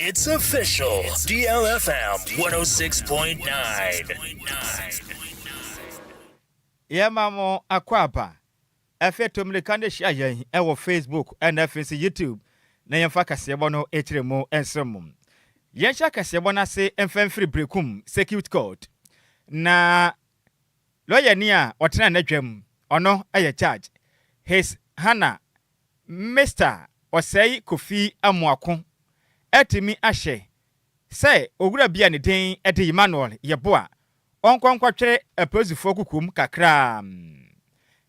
It's official. DLFM 106.9. Yɛma mo akwaaba. Afei to mmirika na hyia yɛn wɔ Facebook na afei nso YouTube na yɛmfa kaseɛbɔ no kyerɛ mu nsom mo. Yɛnhyɛ kaseɛbɔ no ase mfa mfiri Berekum Circuit Court na lɔyani a ɔtena n'adwam, ɔno yɛ Judge His Hannah Mister Ɔsɛe Kofi Amoako atumi ahyɛ sɛ owura bi a ne din de Emmanuel Yeboah ɔnkɔ nkɔtwere apolisifoɔ kokoam kakra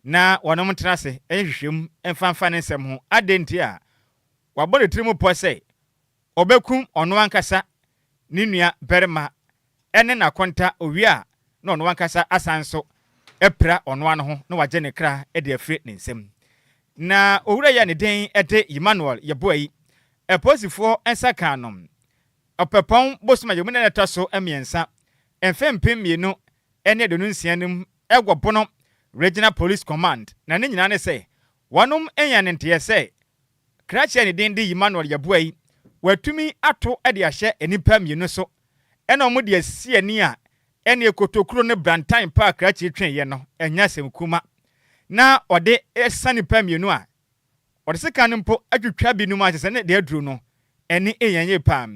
na wɔnom ntena ase nhwehwɛm mfa mfa ne nsɛm ho adɛn nti a wabɔ ne tirim pɔ sɛ Ɔbɛkum ɔno ankasa ne nua barima ne n'akonta owie a, na ɔno ankasa asan nso apira ɔno ara ne ho na wagye ne kra de afiri ne nsam. Na owura yi a ne din de Yemanuel Yeboah yi, apolisifoɔ nsa kaa no Ɔpɛpɔn bosom a yɛwɔ mu nnɛ no a ɛtɔ so mmiɛnsa, mfe mpem mmienu ne aduonu nsia no mu wɔ Bono Regional Police Command, na ne nyinaa ne sɛ wɔanyan ne nteɛ sɛ Krakye a ne din de Emmanuel Yeboah-yi, wɔatumi ato de ahyɛ nnipa mmienu so na wɔde asi ani a ɛne Ekotokuro ne Brantan paa Krakye tweeɛ no ɛnyɛ asɛm kuma na wɔde resa nnipa mmienu a wɔde sekan no mpo atwitwa binom ase sɛ ne deɛ aduru no ani nyɛ yie paa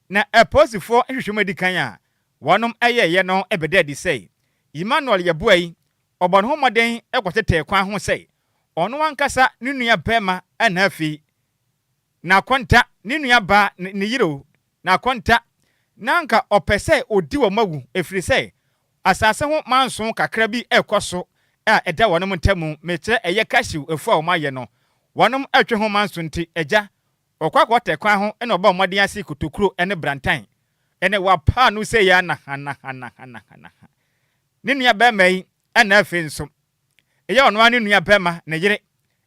na apolisifoɔ nhwehwɛmu a ɛdi kan a wɔnom yɛeɛ no bɛda adi sɛ Emmanuel Yeboah-yi ɔbɔ ne ho mmɔden kɔtetɛɛ kwan ho sɛ ɔno ankasa ne nua barima na afei na akonta ne nua baa ne ne yere o na akonta na anka ɔpɛ sɛ odi wɔn awu ɛfiri sɛ asase ho manso kakra bi ɛkɔ so a ɛda wɔnom ntamu mekyerɛ ɛyɛ cashew afu a wɔn ayɛ no wɔnom ɛtwe ho manso nti agya ɔkɔ akɔ tɛ kwan ho na ɔbɔ mmɔden ase kotokuro ne brantan ne wapaa no sei a na ha na ha na ha na ha na ha ne nua barima yi na afei nso Eyɛ ɔno ara ne nua bɛma, ne yere,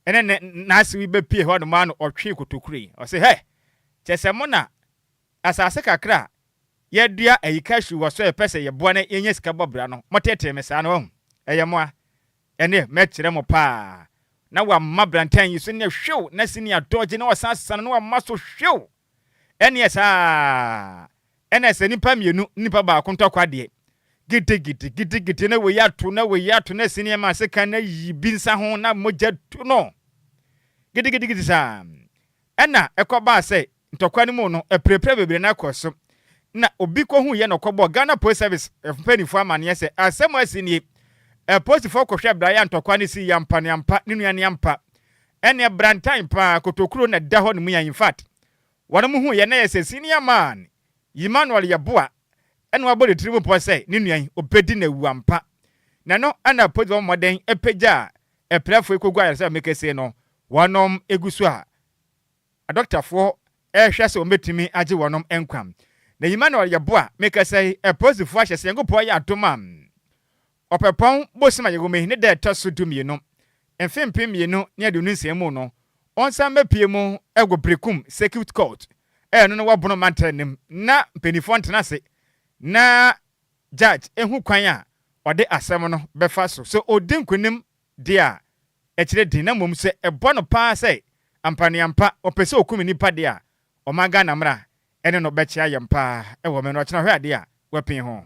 ne ne nase wi bɛ pie hɔ nom a no ɔtwee kotokuro yi. Ɔse hɛ! Kyɛ sɛ mo na asase kakra a yɛ dua ayi cashew wɔ so a yɛ pɛ sɛ yɛ boa na yɛ nya sika bɔ bra no, mo teetee me saa no, wahu? Ɛyɛ mo a, ɛneɛ mɛ kyerɛ mo paa. Na wa ma brantan yi so neɛ hwew na senior dodge na ɔsan san no na wa ma so hwew! Ɛneɛ saa ara na sɛ nipa mmienu ne nipa baako ntɔkwa deɛ, gidigidi gidigidi na wei ato na wei ato na sini ɛma sekan na yi bi nsa ho na mogya tu no gidigidigidi saa. Ɛna ɛkɔbaa sɛ ntɔkwa no mu no apirapira bebree na ɛkɔ so na obi kɔhuiɛ na ɔkɔbɔɔ Ghana Police Service mpanimfoɔ amaneɛ sɛ asɛm a asi nie, apolisifoɔ kɔhwɛɛ beraeɛ a ntɔkwa no sii yɛ ampa ne ampa ne nua ne ampa Ɛneɛ brantan paa kotokuro na ɛda hɔ nom yan infact wɔn mo hu yɛ na yɛ sɛ senior man Emmanuel yɛ boa ɛna wabɔ ne tiri mu pɔ sɛ ne nua yi obedi na awu ampa na ɛno ɛna polisi bɛbɔ mmɔden apagya apirafoɔ yi kogu ayaresabame kesee no wɔnom egu so a adɔktafoɔ ɛrehwɛ sɛ wɔn betumi agye wɔnom nkwa na Emmanuel yɛ boa mekasa yi apolisifoɔ ahyɛ sɛ Nyankopɔn yɛ adom a Ɔpɛpɔn bosoom a yɛwɔ mu yi ne da a ɛtɔ so dumienu, mfe mpem mmienu ne aduonu nsia mu no, wɔnsan mmɛpue mu wɔ Berekum Circuit Court a ɛno ne wɔ Bono Mantam no mu na mpanimfoɔ ntena ase na Judge ɛhu kwan a ɔde asɛm no bɛfa so sɛ ɔdi nkunim deɛ a ɛkyerɛ din na mmom sɛ ɛbɔ no paa sɛ ampa ne ampa wɔpɛ sɛ wɔkum nnipa deɛ a ɔman Ghana mmara Ɛne no bɛkyea yɛn paa wɔ me no ɔkyena hwɛ adeɛ a wapin ho.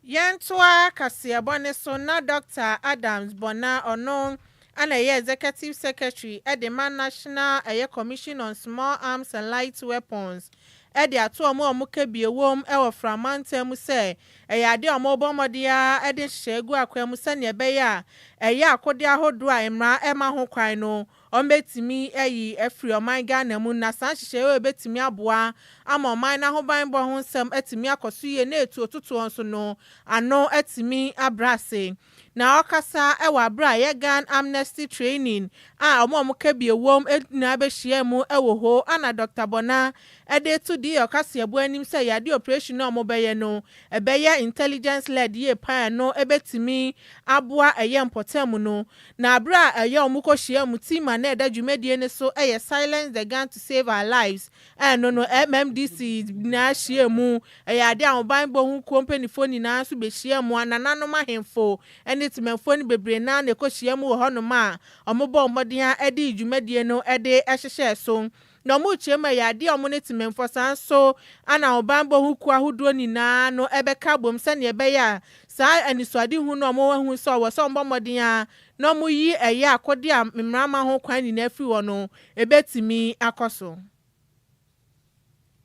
Yɛntoa kaseɛbɔ no so na Dɔkta Adams Bɔna ɔno na ɛyɛ Executive Secretary de ma National ɛyɛ Commission on Small Arms and Light Weapons de ato wɔn a wɔn kabie wom wɔ Fra mantam mu sɛ ɛyɛ adeɛ a wɔrebɔ mmɔden ara de nhyehyɛeɛ agu akwan mu sɛdeɛ ɛbɛyɛ a ɛyɛ akodeɛ ahodoɔ a mmara mma ho kwan no Wɔbɛtumi ayi afiri ɔman Ghana mu na saa nhyehyɛeɛ wei bɛtumi aboa ama ɔman no ahobanbɔ ho nsɛm atumi akɔ so yie na etuo totoɔ nso no ano atumi abrɛ ase. Na ɔkasa wɔ aberɛ a yɛ Ghan Amnesty Training a wɔn a wɔn kabie wom nyinaa bɛhyiaa mu wɔ hɔ a na Dɔkta Bonah de reto deɛ ɔkaseɛboɔ anim sɛ yɛade operation a wɔbɛyɛ no ɛbɛyɛ intelligence led yie paa a ɛno bɛtumi aboa ɛyɛ mpɔtam no Na bere a ɛyɛ a wɔkɔhyiaam team a na ɛda dwumadie no so yɛ Silence the Gun to Save Our Lives no no, MMDC nyinaa hyiaa mu. Ɛyɛ adeɛ a ahobanbɔ ho kuo mpaninfoɔ nyinaa nso bɛhyiaa mu. Anananom ahemfo ne temanfoɔ no bebree no ara na ɛkɔhyiaa mu wɔ hɔnom a wɔbɔɔ mmɔden ara de dwumadie no de hyehyɛɛ so. na ɔmo rekyerɛ mu ɛyɛ adeɛ a ɔmo ne Temammfo san so ana ɔbanbɔ ho kuo ahodoɔ nyinaa no bɛka abom sɛdeɛ ɛbɛyɛ a saa anisoadehunu no a ɔmo ahu sɛ ɔwɔ sɛ ɔmo bɔ mmɔden ara na ɔmo yi ɛyɛ akodeɛ a mmara mma ho kwan nyinaa firi hɔ no ɛbɛtumi akɔ so.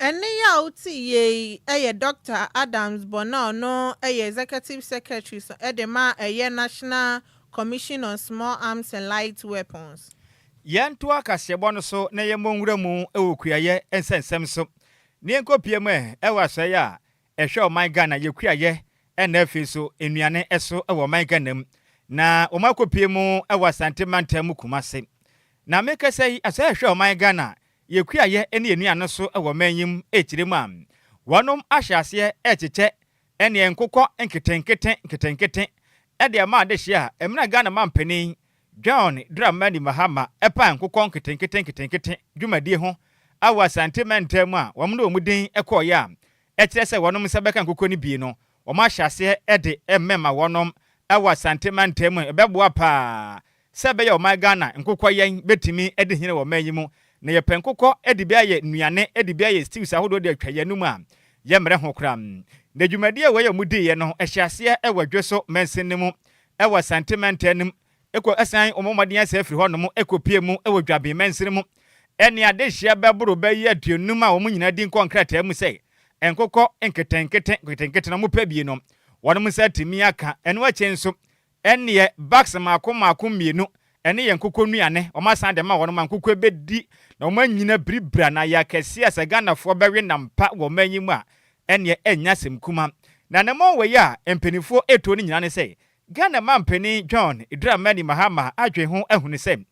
Ɛnne yi a woteeɛ yi yɛ Dɔkta Adams bɔ no a ɔno yɛ Executive Secretary so de ma a ɛyɛ National Commission on Small Arms and Light Weapons. Yɛntoa kaseɛbɔ no so na yɛmmɔ nwura mu wɔ kuayɛ nsɛnsɛm so na yɛnkɔ pie mu ɛ wɔ asɔeɛ a ɛhwɛ ɔman Ghana yɛ kuayɛ na afei so nnuane so wɔ ɔman Ghana mu na wɔn akɔ pie mu wɔ Asante mantam mu Kumase na mekasa yi asɔeɛ a ɛhwɛ ɔman Ghana Yɛkua yɛ ne yɛn nuanom so wɔ man yi mu ɛkyire mu a, wɔnom ahyɛ aseɛ ɛrekyekyɛ ɛneɛ nkokɔ nketenkete nketenkete ɛde ama adehyeɛ a ɛmina Ghana Mampanin John Dramani Mahama ɛpaa nkokɔ nketenkete nketenkete dwumadie ho awɔ Asante mantaa mu a wɔn ne wɔn din ɛkɔɔeɛ a ɛkyerɛ sɛ wɔnom nsa bɛka nkokɔ no bi no wɔn ahyɛ aseɛ ɛde ɛmɛma wɔnom ɛwɔ Asante mantaa mu ɛbɛboa paa sɛ ɛbɛyɛ ɔman Ghana nkokɔ yɛn bɛtumi adi hene wɔ ɔman yi mu. Na yɛpɛ nkokɔ de bi ayɛ nnuane, de bi ayɛ stews ahodoɔ de atwa yɛn anom a, yɛmmrɛ ho koraa. Na dwumadie wei a wɔdiiɛ no, ɛhyɛɛ aseɛ wɔ Dweso mansin no mu wɔ Asante mantam no mu, kɔ san wɔn mmɔden ase afiri hɔnom kɔpuee mu wɔ Dwaben mansin mu ne adehyeɛ bɛboro bɛyɛ aduonum a wɔn nyinaa din kɔ nkrataa mu sɛ nkokɔ nketenkete nketenkete na wɔpɛ bi no, wɔnom nsa atumi aka. Ɛno akyi nso, Ɛnneɛ bags mmaako mmaako mmienu ne yɛn nkokɔ nnuane wɔn asan de ama wɔn ma nkokɔ bɛdi na wɔn anyina biribiri anaa yɛ akɛseɛ a sɛ Ghanafoɔ bɛwe nam pa wɔ ɔman yi mu a ɛnneɛ ɛnyɛ asɛm kuma. Na anammɔn wei a mpaninfoɔ retuo no nyinaa ne sɛ Ghana mampanin John Dramani Mahama adwene ho ahunu sɛ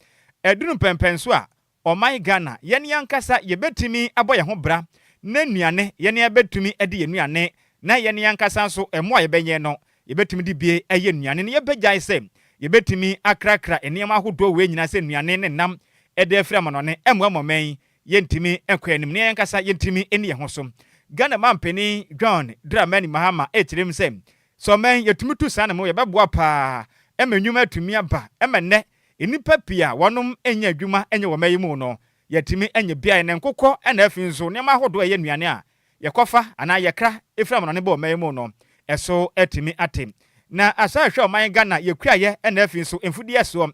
aduru mpɛnpɛnso a Ɔman Ghana, yɛn ankasa yɛbɛtumi abɔ yɛn ho bra na nnuane, yɛn ara bɛtumi de yɛn nnuane na yɛn ankasa nso mmoa a yɛbɛnyɛn no, yɛbɛtumi de bie ayɛ nnuane na yɛbɛgyae sɛ yɛbɛtumi akrakra nneɛma ahodoɔ wei nyinaa sɛ nnuane ne nam de afiri amanɔne ɛmmoa ma ɔman yi yɛntumi nkɔ anim na yɛn ankasa yɛntumi nni yɛn ho so. Ghana Manpanin John Dramani Mahama kyerɛ mu sɛ, sɛ ɔman yi yɛtumi tu saa no mo yɛbɛboa pa ara ma nnwuma atumi aba ma nnɛ Nnipa pii a wɔnom nyɛ adwuma nyɛ wɔ mɛyi mu no, yɛatumi anya beae ne nkokɔ na afei nso nneɛma ahodoɔ a ɛyɛ nnuane a yɛkɔfa anaa yɛkra firi amanɔne bɔ wɔ mɛyi mu no so atumi ate. Na asan ahwɛ ɔman Ghana yɛkuraeɛ na afei nso mfudeɛ soɔ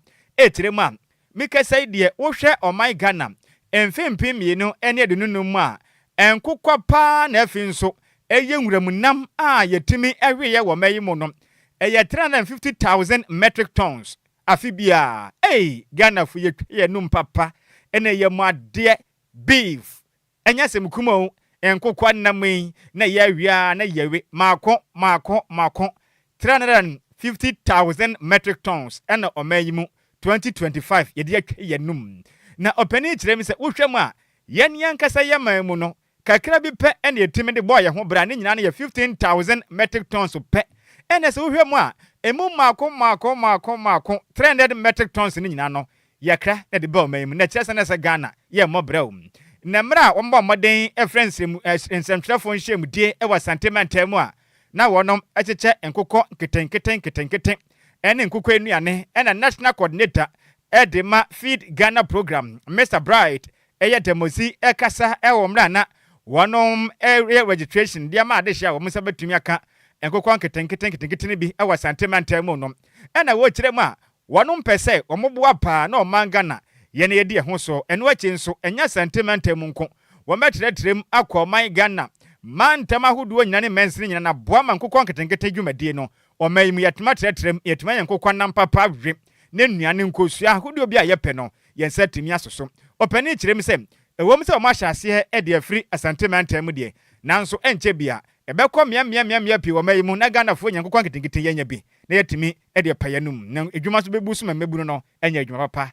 tire mu a, mekasa yi deɛ wohwɛ ɔman Ghana mfe mpem mmienu ne aduonu num mu a, nkokɔ pa ara na afei nso ɛyɛ nwuram nam a yɛtumi weeɛ wɔ mɛyi mu no ɛyɛ three hundred and fifty thousand metric tons. Afe biaa ei Ghanafo yɛtwa yɛnum papa na ɛyɛ mo adeɛ beef ɛnyɛ asɛm kuma o nkokoa nam yi na ɛyɛ awe aa na yɛwe maako maako maako 350,000 metric tons na ɔman yi mu 2025 yɛde atwa yɛnum na ɔpanin kyerɛ me sɛ wohwɛ mu a yɛn yɛn ankasa yɛman mu no Kakra bi pɛ na yetumi de bɔɔ yɛn ho bra, ne nyinaa no yɛ 15,000 metric tons pɛ. Ɛnna sɛ wohwɛ mu a, emu mmaako mmaako mmaako mmaako, 300 metric tons no nyinaa no, yɛkra na yɛde ba ɔman yi mu. Na ɛkyerɛ sɛ na ɛsɛ Ghana yɛmmɔ brɛoo. Na mmerɛ a wɔbɔɔ mmɔden frɛɛ nsrɛmu, eh, nsɛmtwerɛfoɔ nhyiamudie wɔ Asante mantam mu a, na wɔnom kyekyɛ nkokɔ nketenkete nketenkete ne nkokɔ nnuane, ɛnna National Coordinator de ma Feed Ghana Programme, Mister Bright Ɛyɛ Democse ɛkasa ɛwɔ mmerɛ a na wɔnom ɛreyɛ registration de ama adehyeɛ a wɔn nsa bɛtumi aka nkokɔ nketenkete nketenkete no bi ɛwɔ Asante mantam mu no ɛna wɔrekyerɛ mu a wɔnom pɛ sɛ wɔn boa paa na ɔman Ghana yɛ na yɛdi ɛho so ɛno akyi nso ɛnyɛ Asante mantam mu nko wɔn bɛtrɛtrɛ mu akɔ ɔman Ghana mantam ahodoɔ nyina ne mansini nyina na boa ma nkokɔ nketenkete dwumadie no Ɔman yi mu, yɛtumi atrɛtrɛ mu, yɛtumi ayɛ nkokɔ nam papa we, ne nnuan ne nkosua ahodoɔ bi a yɛpɛ no, yɛn nsa tumi aso so. Ɔpanin kyerɛ mu sɛ, Ɛwom sɛ wɔahyɛ aseɛ de afiri Asante mantam mu deɛ, nanso ɛnkyɛ biara, ɛbɛkɔ mmeammea pii wɔ ɔman yi mu na Ghanafoɔ anya nkokɔ nketenkete yi anya bi na yɛatumi de apa yɛn anom, na adwuma nso bɛbu so ma mmabunu no anya adwuma papa.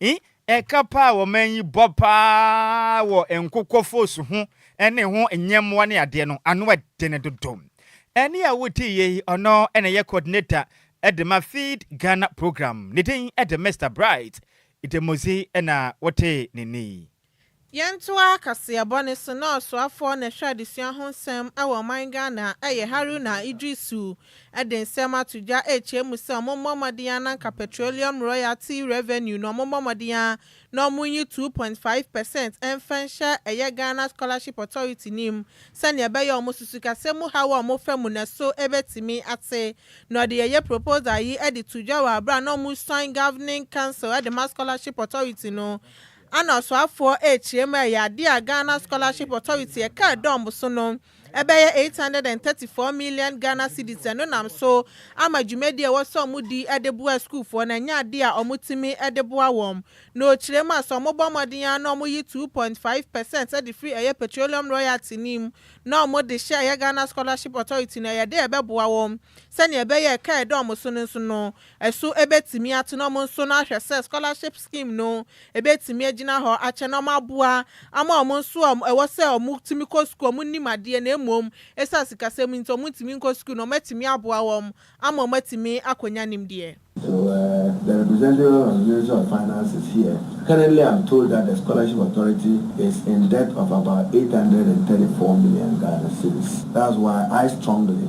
I. Ɛka pa a ɔman yi bɔ pa ara wɔ nkokɔ fos ho ne ho nyɛmmoa ne adeɛ no, ano yɛ den dodo. Ɛnne a wotiiɛ yi, ɔno na ɛyɛ coordinator de ma Feed Ghana programme. Ne din de Mister Bright Idemozzi na wotee ne nne yi. Yɛntoa kaseɛ bɔne so na ɔsoafoɔ na ɛhwɛ adesua ho nsɛm wɔ ɔman Ghana yɛ Haruna Iddrisu de nsɛm ato dwa rekyerɛ mu sɛ ɔmo mmɔ mmɔden ara na nka Petroleum Royalty Revenue no ɔmo mmɔ mmɔden ara na ɔmo nyi two point five percent mfa nhyɛ ɛyɛ Ghana Scholarship Authority no mu sɛnea ɛbɛyɛ ɔmo susukasa mu haw a ɔmo fa mu no ɛso bɛtumi ate na ɔde ɛyɛ proposal yi de to dwa wɔ aberɛ a na ɔmo resuan Governing Council de ma Scholarship Authority no Ana ɔsoafoɔ rekyerɛ mu a ɛyɛ adeɛ a Ghana Scholarship Authority ɛka ɛdɔm so no ɛbɛyɛ eight hundred and thirty four million Ghana cedis ɛno nam so ama dwumadie a ɛwɔ sɛ wɔn di de boa asukuufoɔ no ɛnyɛ adeɛ a wɔn tumi de boa wɔn na ɔkyerɛ mu a sɛ wɔn bɔ mmɔden ara na wɔn yi two point five percent de firi ɛyɛ petroleum royalty no mu na wɔn de hyɛ ɛyɛ Ghana Scholarship Authority no ɛyɛ adeɛ a ɛbɛboa wɔn sɛdeɛ ɛbɛyɛ ɛka ɛdɔm so no nso no So ebetumi atena wɔn nso no ahwɛ sɛ scholarship scheme no ebetumi agyina hɔ akyɛ na wɔaboa ama wɔn nso a ɛwɔ sɛ wɔtumi kɔ sukuu a wɔnnim adeɛ na mmom esiane sikasɛm nti wɔntumi nkɔ sukuu no wɔatumi aboa wɔn ama wɔatumi akɔnya nimdeɛ? So the representative of the Ministry of Finance is here? Currently I'm told that the Scholarship Authority is in debt of about eight hundred and thirty four million Ghana cedis that's why I strongly.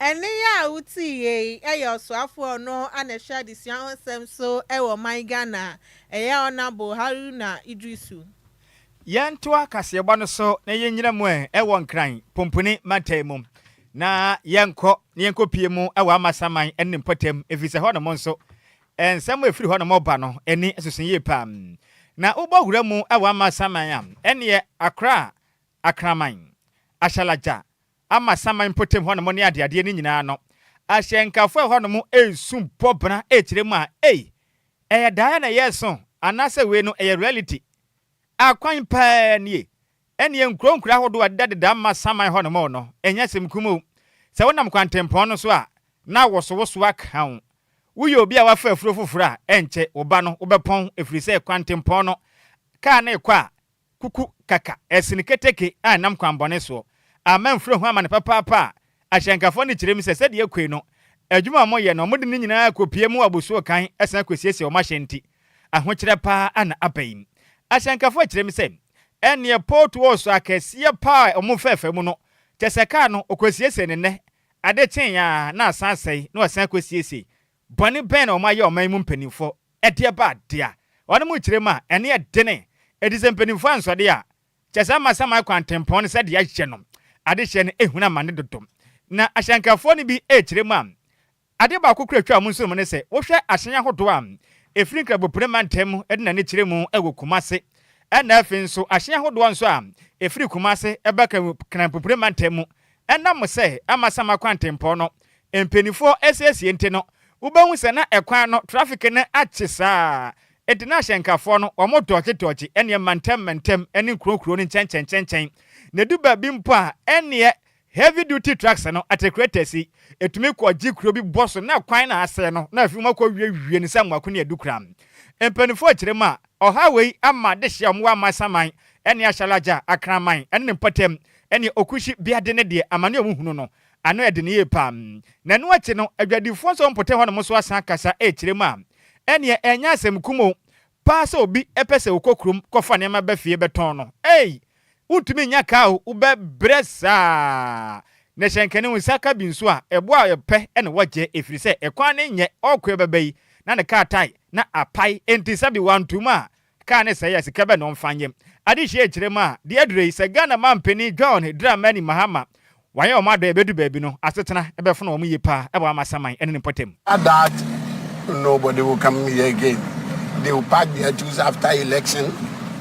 Ɛnne yi a wotiie yi yɛ ɔsoafo a ɔno ara na ɛhwɛ adesua ho nsɛm so wɔ ɔman Ghana, ɛyɛ Honourable Haruna Iddrisu. Yɛntoa kaseɛbɔ no so na yɛnnyina mu ɛ wɔ Nkran, Pumpuni, mantam mu. Na yɛnkɔ na yɛnkɔpie mu wɔ Amasaman ne ne mpɔtam ɛfiri sɛ hɔnom nso nsɛm a ɛfiri hɔnom reba no ani soso yie pa ara. Na wobɔ wura mu wɔ Amasaman a, ɛnneɛ Accra, Akraman, Ashalaja, ama saman mpɔtam hɔnom ne adeadeɛ no nyinaa no, ahyɛnkafo a ɛwɔ hɔnom resu bɔ bena rekyerɛ mu a, ei, ɛyɛ daeɛ na yɛreso anaasɛ wei no ɛyɛ reality? Akwan pa ara nie. Ɛnneɛ nkuro nkuro ahodoɔ a ɛdedadeda mma saman hɔnom no, ɛnyɛ asɛm kumaa o. Sɛ wonam kwantempɔn no so a, na awosowosoɔ aka wo. Woyɛ obi a woafa afuro foforɔ a, ɛnkyɛ, wo ba no, wobɛpɔn, ɛfiri sɛ kwantempɔn no, kaa no rekɔ a, Kuku kaka ɛsene keteke a ɛnam kwanbɔne soɔ. Amen frɛ ho amane papaapa a ahyɛnkafoɔ no kyerɛ mu sɛ sɛdeɛ ɛkɔi no adwuma a wɔyɛ no wɔde ne nyinaa kɔpie mu abosuo kan san kɔsiesie wɔn ahyɛn nti ahokyerɛ paa ara na aba yi. Ahyɛnkafoɔ kyerɛ mu sɛ ɛnneɛ potholes akɛseɛ paa a wɔn fɛɛfɛ mu no kyɛsɛ kaa no wɔkɔsiesiee no nnɛ ade kyeeɛ ara na asan asɛe na wɔsan kɔsiesiee Bɔne bɛn na wɔayɛ ɔman yi mu mpanyimfo? Ɛdeɛ ba adeɛ a, wɔnom rekyerɛ mu a, ɛne ɛdene. Enti sɛ mpanyimfo ansɔ deɛ a, kyerɛ sɛ ama saman kwan tempɔn no sɛdeɛ yɛahyɛ no. Adehyeɛ no ahunu amane dodo. Na ahyɛnkafoɔ no bi rekyerɛ mu a, adeɛ baako koraa a ɛtwa wɔn nsonom ne sɛ, wohwɛ ahyɛn ahodoɔ a ɛfiri Nkrabopire mantam mu de n'ani kyerɛ mu wɔ Kumase, ɛnna afei nso ahyɛn ahodoɔ nso a ɛfiri Kumase ba Kranpopire mantam mu Ɛnam sɛ Amasaman kwantempɔn no mpanimfoɔ asiesie nti no, wobɛhu sɛ na ɛkwan no traffic no akye saa ara, enti na ahyɛnkafoɔ no wɔtɔɔkyetɔɔkye ɛnneɛ mmantɛmmantɛm ne nkurokuro no nkyɛnkyɛnkyɛnkyɛn, na ɛdu baabi mpo a ɛnneɛ heavy duty trucks no, atekrɛtɛs yi, ɛtumi kɔgye kuro bi bɔ so na kwan no asɛe no na afei wɔakɔwiewie no sɛ mmoako ne adukura. Mpanimfoɔ kyerɛ mu a, Ɔhaw wei ama dehye a wɔwɔ Amasaman ne Ashalaja, Akraman ne ne mpɔtam, ne Okushi Biade ne deɛ amane a wɔhunu no, ano yɛ den yie pa ara. Na ɛno akyi no, adwadifoɔ nso a wɔn mpɔtam hɔnom nso asan akasa rekyerɛ mu a, ɛnneɛ ɛnyɛ asɛm kum o, paa sɛ obi pɛ sɛ ɔkɔ kurom kɔfa nneɛma ba fie bɛtɔn no. Ei! Wontumi nnya ka a wobɛ brɛ saa na hyɛ nkɛne wo nsa ka bi nso a ɛboɔ a wɔpɛ na wɔgyɛ ɛfiri sɛ ɛkwan no nyɛ ɔɔko ɛbɛba yi na ne kaa tae na apae ɛnti sɛbi wanto mu a kaa no sɛe a sika bɛ na ɔmfa nyɛ adehyia ɛkyerɛ mu a deɛ aduro yi sɛ Ghana mampanin John Dramani Mahama Wɔayɛ wɔn adɔe bedu baabi no, asetena bɛfono wɔn yiye paa wɔ amasaman ne ne mpɔtam. That nobody will come here again, they will pack their tools after election,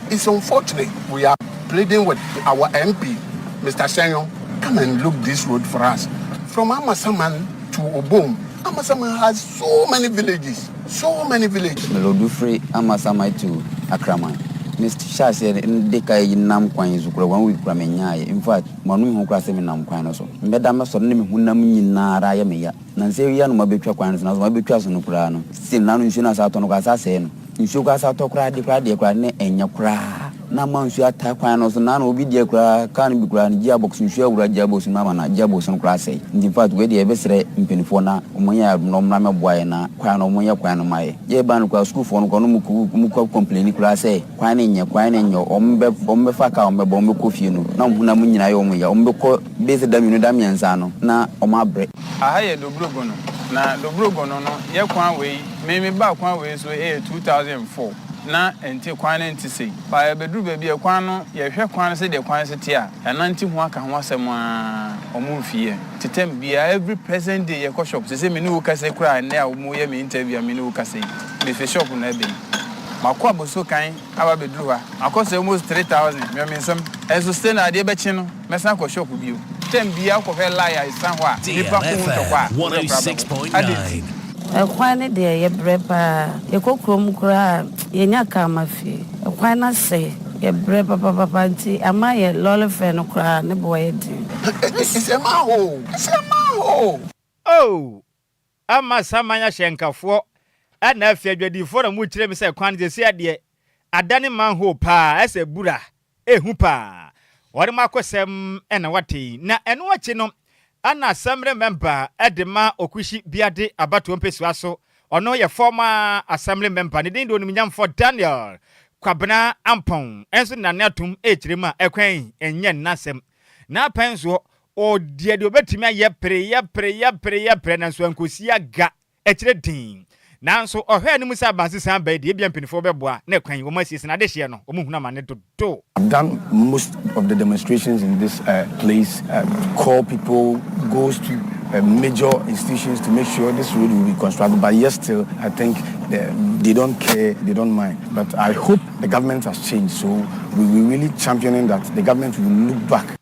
it's unfortunate, we are pleading with our MP Mister Ssenyong, come and look this road for us from Amasaman to Obom, Amasaman has so many villages, so many villages. Road firi Amasaman to Akraman, me hyɛ aseɛ de kae yi nam kwan yi so kura one week kura me nyaeɛ, in fact. Ma ɔno nhu koraa sɛ menam kwan no so. Meda me sɔre na me honam nyina ara ayɛ me ya. Nnansa yi ara na wɔabɛtwa kwan no so, nanso wɔabɛtwa so no koraa no, se na ano nsuo no asa atɔ no koraa, asa asɛe no. Nsuo koraa asa atɔ koraa, adeɛ koraa deɛ koraa na ɛnyɛ koraa. Na ama nsuo ataa kwan no so, na ano obi deɛ koraa, kaa no bi koraa no, gearbox, nsuo awura gearbox no mu ama na gearbox no koraa asɛe. Nti infact wei deɛ yɛbɛsrɛ mpaninfoɔ na wɔnyɛ yɛn adom na wɔmmra mmɛboa yɛn na kwan no wɔnyɛ kwan no mma yɛn. Yɛreba no koraa sukuufoɔ no koraa no wɔkɔ complaini koraa sɛ, Kwan no nyɛ, kwan no nyɛ, wɔbɛ, wɔbɛfa kaa, wɔbɛba, wɔbɛkɔ fie no, na wɔn honam nyinaa ayɛ wɔn ya, wɔbɛkɔ base da mmienu, da mmiɛnsa no, na wɔabrɛ. Aha yɛ Dobrogono, na Dobrogono no yɛ kwan wei, me, mebaa kwan wei so ɛyɛ two thousand and four, na ɛnte, kwan no nte sei, but yɛbɛduru baabi a kwan no, yɛhwɛ kwan no sɛdeɛ kwan so te a, yɛanante ho aka ho asɛm ara, wɔmfi yɛn, tetɛm biara, every present day yɛkɔ shop, seesei me ne wo kasa yi koraa, ɛnnɛ a wɔreyɛ me interview a me ne wo kasa yi, mefi shop no abɛn. Makɔ abɔsuo kan aba abɛduru hɔ a, makɔ sɛ almost three thousand, mewɔ me nsam. Nso still no, adeɛ bɛkye no, mɛsan akɔ shop bio. Term biara wokɔhwɛ line a ɛsesa hɔ a, nnipa ko wo ntɔ kɔ a, wo werɛ koraa bɛho. Adɛn nti? Ɛkwan no deɛ yɛ brɛ paa yɛkɔ kurom koraa a yɛnya car ma fie ɛkwan no asɛe yɛ brɛ papapapa nti ama yɛ lorry fare no koraa ne bo ayɛ den. Ɛsɛ ma hoo! Ɛsɛ ma hoo! Oh! Ɛmma saman ahyɛnkafoɔ ɛna afie adwadifoɔ na mo kyerɛ me sɛ kwan no sɛsi adeɛ adane man hoo paa ɛsɛ bura ɛhu paa wɔde mo akosɛm ɛna wate yi na ɛno akyi no ɛna asɛmre mɛmba ɛde ma okuhyi biade abatoɔ mpɛsua so ɔno yɛ fɔma asɛmre mɛmba ne din de onimunyamfoɔ Daniel kwabena ampɔn ɛnso nane atom ɛkyerɛ mu a ɛkwan ɛnyɛ nnasɛm na apɛnsoɔ Ɔyɛ deɛ ɔbɛtumi ayɛ pere yɛ pere yɛ pere yɛ pere nanso ankɔsi aga akyire dinn. Nanso ɔhwɛ a ne mu sɛ abansesã bɛyɛ deɛ ebia mpanyinfoɔ bɛboa na kwan yi wɔn asiesie na adehyeɛ no wɔn hunu amane dodo. I've done most of the demonstrations in this place call people goes to major institutions to make sure this road will be constructed but yet still I think they don't care they don't mind but I hope the government has changed so we will really championing that the government will look back.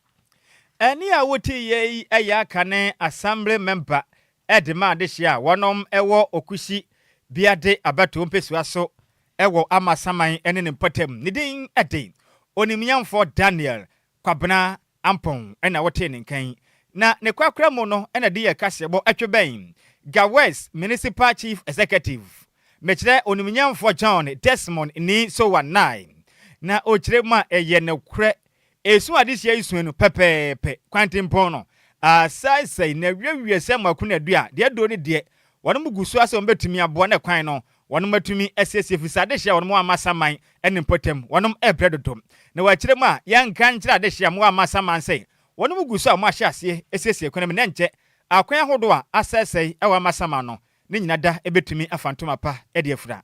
Ɛnne a wotiiɛ yi yɛ akane Assembly member de ma adehyeɛ a wɔnom wɔ Okusi Biade abatoɔ mpesua so wɔ Amasaman ne ne mpɔtam. Ne din de Onimyɛnfoɔ Daniel Kwabena Ampong na wotee ne nka yi. Na ne korakora mu no na de yɛ kaseɛbɔ twe bɛn Ga West Municipal Chief Executive, mekyerɛ Onimyɛnfoɔ John Desmond Nii Sowa Nai. Na ɔkyerɛ mu a ɛyɛ nokorɛ Esuo adesua yi sua no pɛpɛɛpɛ, kwantempɔn no, asaesɛe, na awiawiaɛ sɛ mako na dua, deɛ aduro ne deɛ wɔnom gu soa sɛ wɔbɛtumi aboa na kwan no wɔnom atumi asiesie firi sɛ adehyeɛ a wɔnom amma saman ne mpɔtam wɔnom rebrɛ dodo. Na wɔ akyire mu a yɛnka nkyerɛ adehyeɛ a wɔn amma saman sɛ wɔnom gu so a wɔn ahyɛ aseɛ asiesie kwan mu na ɛnkyɛ akwan ahodoɔ a asaesɛe a wɔamma saman no ne nyina da bɛtumi afa ntoma pa de afira.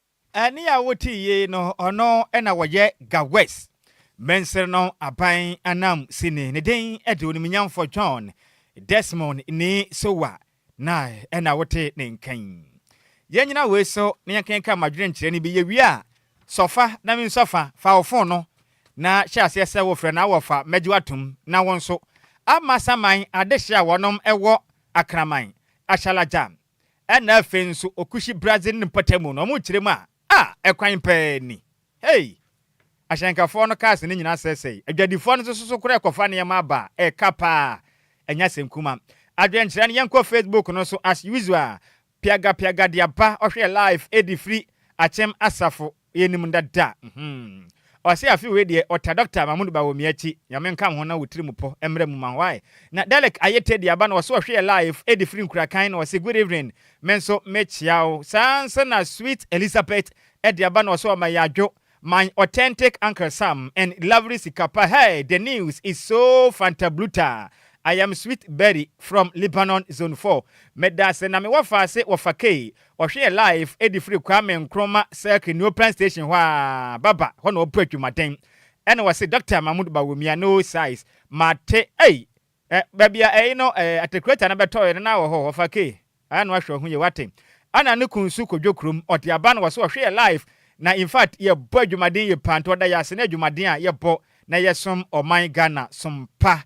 Ɛne a wotii yei no ɔno na wɔyɛ Gawes mansir no aban ananmusini. Ne din de Onimnyamfo John Desmond Nii Sowa na na wote ne nkan. Yɛnnyina wei so na yɛnkenkan m'adwenkyerɛ no bi. Yɛwie a, sɔ fa na mensɔ fa. Fa wo fon no na hyɛ aseɛ sɛ wofrɛ na wɔfa mɛgye wo atom na wo nso ama saman adehye a wɔnom wɔ Akraman, Ashalaja, Ɛna afei nso Okushi Brazil ne mpɔtam no ɔmo kyerɛ mu a ah ɛkwan paa ni hey! Ahyɛnkafɔɔ no cars no nyinaa sɛɛsɛe, adwadifɔɔ no nso soso koraa ɛkɔfa nneɛma aba a ɛka paa ɛnyɛ asɛm kuma. Adwenkyerɛ no yɛnkɔ Facebook no so as usual piagapiaga de aba ɔhwɛ live ɛde firi Akyem Asafo Yɛnim dada hmm. Ɔse afe wei deɛ ɔta Doctor Mahmood ba wɔ miakyi Nyame nka woho na wo tirimu pɔ mmra mu ma why na Derrick ayɛ Teddy aba na ɔse ɔhwe yɛ live ɛde firi nkurakan na ɔse good evening me nso me kyea wo saa nso na sweet Elizabeth ɛde aba na ɔse ɔma yɛ adwo my authentic uncle Sam and lovely sika pa hey the news is so fantabluta I am sweet Berry from Lebanon zone four meda ase na me wɔ faase wɔ fakee Ɔhweɛ live de firi Kwame Nkrumah Circle New Plan Station hɔ a ba ba hɔ na ɔpo atwumaden ɛna wɔse Doctor Mahmood Bawumia no size mate ei ɛ baabi a ei no ɛ atekureta no bɛtɔɔɛ no na wɔ hɔ wɔfa key ɛ no ahwɛ ho ye wate ɛna ne kun nso kɔdwo kurom ɔde aba no wɔse ɔhweɛ live na infact yɛ bɔ adwumaden ye paa nti ɔda yɛ ase ne adwumaden a yɛ bɔ na yɛ som ɔman Ghana som pa.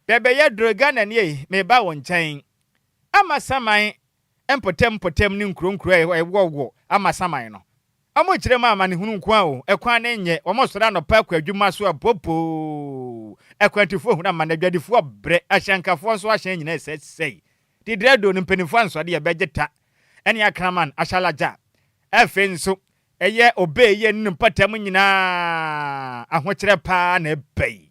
Bɛbɛyɛ duro Ghanani ei meba wo nkyɛn Ama saman mpɔtam mpɔtam ne nkurow nkurow a ɛwowɔwowɔ amasaman no. Wɔkyerɛ ma amanehunu nko ara o, ɛkwan no nyɛ. Wɔsɔre anɔpa kɔ adwuma so a, poopoo! Akwantufo hunu amane, adwadifo abrɛ, ahyɛnkafo nso ahyɛn nyinaa resɛesɛe. Didrado no mpanyimfo ansoa de yɛ bɛgye ta ne akraman, ahyalagya. Afei nso, ɛyɛ ɔbɛayiye ne ne mpɔtam nyinaa ahokyerɛ paa na ɛba yi.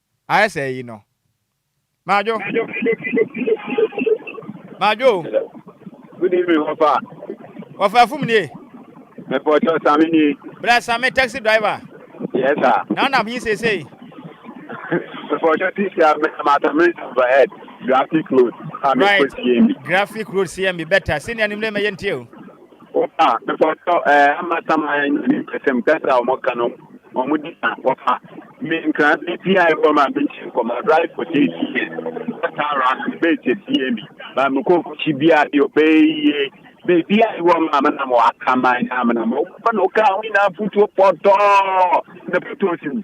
Ayɛ sɛ eyi no. Madwo! Madwo! Good evening, Wɔfa. Wɔfa Afum nie. Mepɔtɔ Sami nie. Bra Sami taxi driver. Yes sir. Na wonam he seesei? Mepɔtɔ taxi a menam Atamere Overhead, Graphic Road a mekɔ CMB. Right, Graphic Road CMB, better. Senior nim lane ma yɛntie o. Wɔfa mepatɔ ɛɛ ama sama yɛ nyɛ ne pɛsɛm kɛse a wɔn ka no wɔn di sa wɔfa mi nkran bi ti a ɛwɔ ma mi kyi nkɔmɔ adrai for ti ti yɛ wɔta ara no bɛ ti ti yɛ mi ma mi kɔ kyi bi a yɛ ɔbɛ yie bɛ bi a ɛwɔ ma mi na mo aka ma na mi na mo wɔn na ɔka wɔn nyinaa futuo pɔtɔɔ na pɛtɔɔ si mu.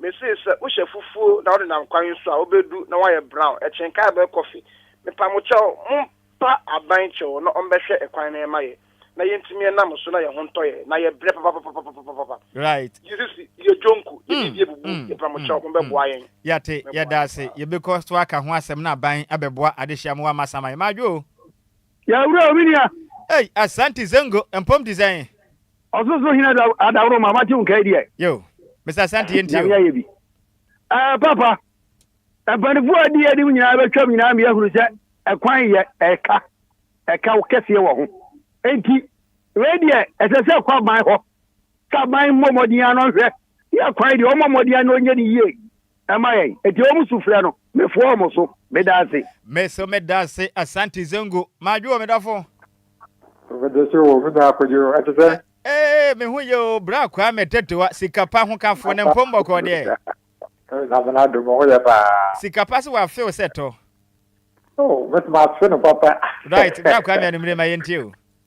Mese sɛ wohyɛ fufuo na wonenam kwan so a wobɛdu na woayɛ brown, ɛkyen kaa bɛyɛ kɔfe. Mepamo kyɛw mompa aban kyɛw na ɔmbɛhwɛ ɛkwan na ɛma yɛ na yɛntumi ɛnam so na yɛho ntɔ yɛ na yɛ brɛ papapapapapapapa. Right. Jesus yɛ dwonku, yɛ biribi abubu, Mm, yɛpɛ mo mm, kyɛw mm, mombɛboa yɛn. Yɛate, Mɛboa yɛda yɛn ase. paa. Yɛbɛkɔ so aka ho asɛm na aban abɛboa adehyeɛ amoa ma asan ama yɛn. Madwo o. Yɛ wura o, me nua. Ei, Asante Zongo mpom te sɛn? Ɔsosoro Hene Adaworoma, mate wo nkae deɛ. Yo, Mr. Asante yɛntie o. Nyame ayɛ bi. Ɛɛ, Papa, mpanifoɔ a adi anim nyinaa bɛtwam nyinaa mi ahunu sɛ ɛkwan yɛ ɛka, ɛka wo kɛseɛ wɔ ho. Enti, wei deɛ ɛsɛ sɛ ɛkɔ aban hɔ, sɛ aban mmɔ mmɔden ano nhwɛ, yɛ kwan deɛ ɔmmɔ mmɔden ano nyɛ ne yie, Ɛma yɛn. Enti wɔn sufrɛ no, mefoa wɔn so. Meda ase. Me so meda ase. Asante Zongo. Madwo o, me dɔfo. Mede so o, me nua Kwadwo. Ɛte sɛ? Ee, me ho ye o, Bra Kwame Tetewa, sika pa hokafo, ne mpom bɔkɔɔ deɛ? Nyame n'adom, me ho yɛ paa. Sika pa se w'afe wo sɛ tɔ? Oh, mɛtumi afe no papa. Right, Bra Kwame anumere ma yɛntie o.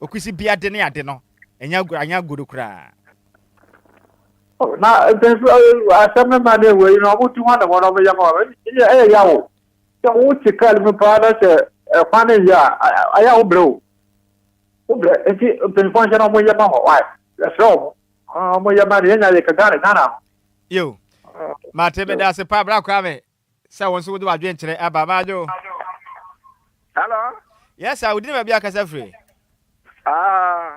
Okusi bi ade ne ade no, ɛnyɛ agoru, anyɛ agoru koraa. Na mpɛnso asɛm no ma ne wei no ɔmo tu hɔ na wɔn ɔmo yɛ ma wɔn ɛyɛ ɛyɛ ya wo sɛ wo te kar mu paa na sɛ ɛkwan no yɛ a ɛyɛ wo brɛ o wo brɛ nti mpanyinfoɔ nhyɛ na ɔmo yɛ ma hɔ wae ɛsrɛ ɔmo ɔmo yɛ ma no yɛnya yɛ ka Ghana Ghana ho. Yo, mate meda ase paa bra koraa me Sɛ wo nso wode w'adwenkyerɛ aba Madwo. Hello. Yes sir, wo din ne baabi a kasa firi. Ah,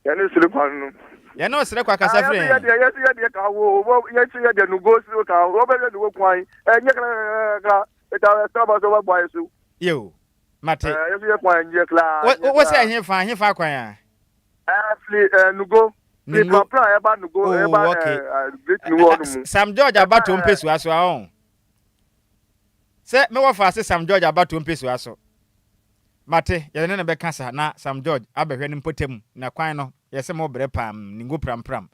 yɛne osere kwa no. Yɛne osere kwa kasa firi. Yɛsi yɛdeɛ yɛsi yɛdeɛ ka wo wo yɛsi yɛdeɛ no go siri ka wo bɛ yɛ no wo kwan ɛnyɛ kra kra ɛta ɛta ba so bɛ bɔ ayɛ so. Yo. Mate. Ɛɛ, yɛso yɛ kwan nyɛ koraa, Wo, nyɛ wo, wose koraa. ɛhefa, ɛhefa kwan a? Ɛɛ, firi ɛɛ Nugo, firi Nugo. Prapra a ɛba Nugo, Oh, ɛba ɛɛ okay. ɛɛ Great Ɛ- Nugo ɛ- hɔ no S- mu. Sam George Ɛba abatoɔ ɛɛ, mpesua so a ɔn. Sɛ me wɔfa ase Sam George abatoɔ mpesua so. Mate, yɛde ne na bɛka sa na Sam George abɛhwɛ ne mpɔtam na kwan no yɛsɛ mo brɛ pam, ningo pram pram.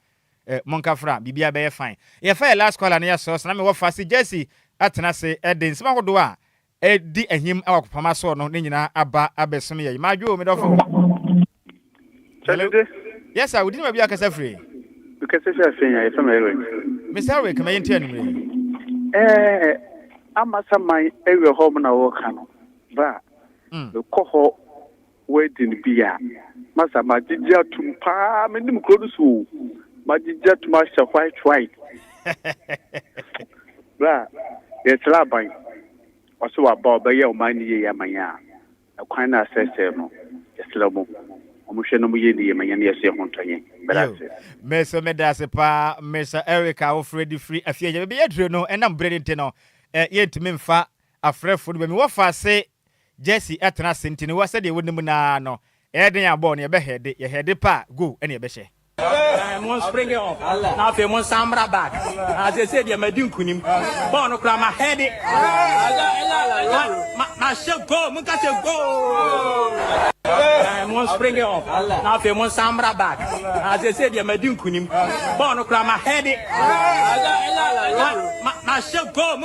Eh, monka fra, biribiara bɛyɛ fine. Yɛfa yɛ last caller no yɛ sɔs na me wɔfa ase Jesse atena ase ɛde nsɛm ahodoɔ a Edi ahim wɔ akofam asɔr no, ne nyina aba abɛsom yɛn. M'adwe o, me dɔfo. Hello? Sɛdede. Yes sir, wo din baabi a kasa firi? Me kasa firi Afenya, yɛ fɛ me Eric. Mister Eric, ma yɛ nti anumere yi. Ɛɛ, Amasaman awia hɔ mo na wɔ ka no, bra, me kɔ hɔ. Woadi no bi a, masa magyegye atom paa, menim kuro no so o, magyegye atom ahyɛ white white. Berɛ a yɛsraa aban, ɔse waba ɔbɛyɛ ɔman no yie ama yɛn a, ɛkwan no a sɛsɛɛ no, yɛsrɛ mo, wɔnhwɛ na wɔyɛ no yie ma yɛn na yɛso yɛho ntɔ yɛn. Medase. Me nso meda ase paa Mister Eric a wofrɛ de firi Afie Agya. Baabi a yɛaduru no, ɛnam berɛ no nti no, yɛntumi mfa afrɛfoɔ no ba. Mewɔ faase Jersey tena ase nti no wa sɛdeɛ wo nim no ara no ɛyɛ den a bɔɔl no yɛ bɛ hɛɛde, yɛ hɛɛde pɛ a goal ɛna yɛ bɛ hyɛ. Ɛɛ mo springe off na afei mo nsan mmra back na seesei deɛ madi nkunim bɔɔl no koraa ma hɛɛde ma ma hyɛ goal mo nka sɛ goal. Ɛɛ mo springe off na afei mo nsan mmra back na seesei deɛ madi nkunim bɔɔl no koraa ma hɛɛde ma ma hyɛ goal.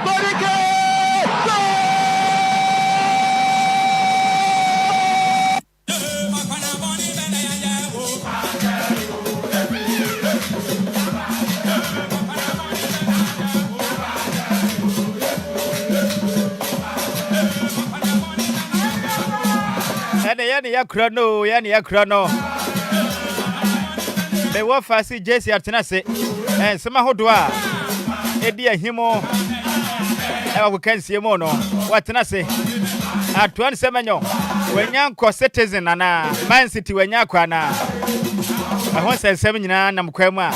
Kwadike! Ɛne yɛne yɛkura no, yɛne yɛkura no. Mewɔ fase. JCR tena ase nsɛm ahodoɔ a ɛdi ahimu ɛwɔ agokansie mu no wɔatena ase atoa nsɛm anyɔ wɔanya nkɔ citizen anaa man city wɔanya akɔ anaa ɛho nsɛnsɛm nyinaa nam kwan mu a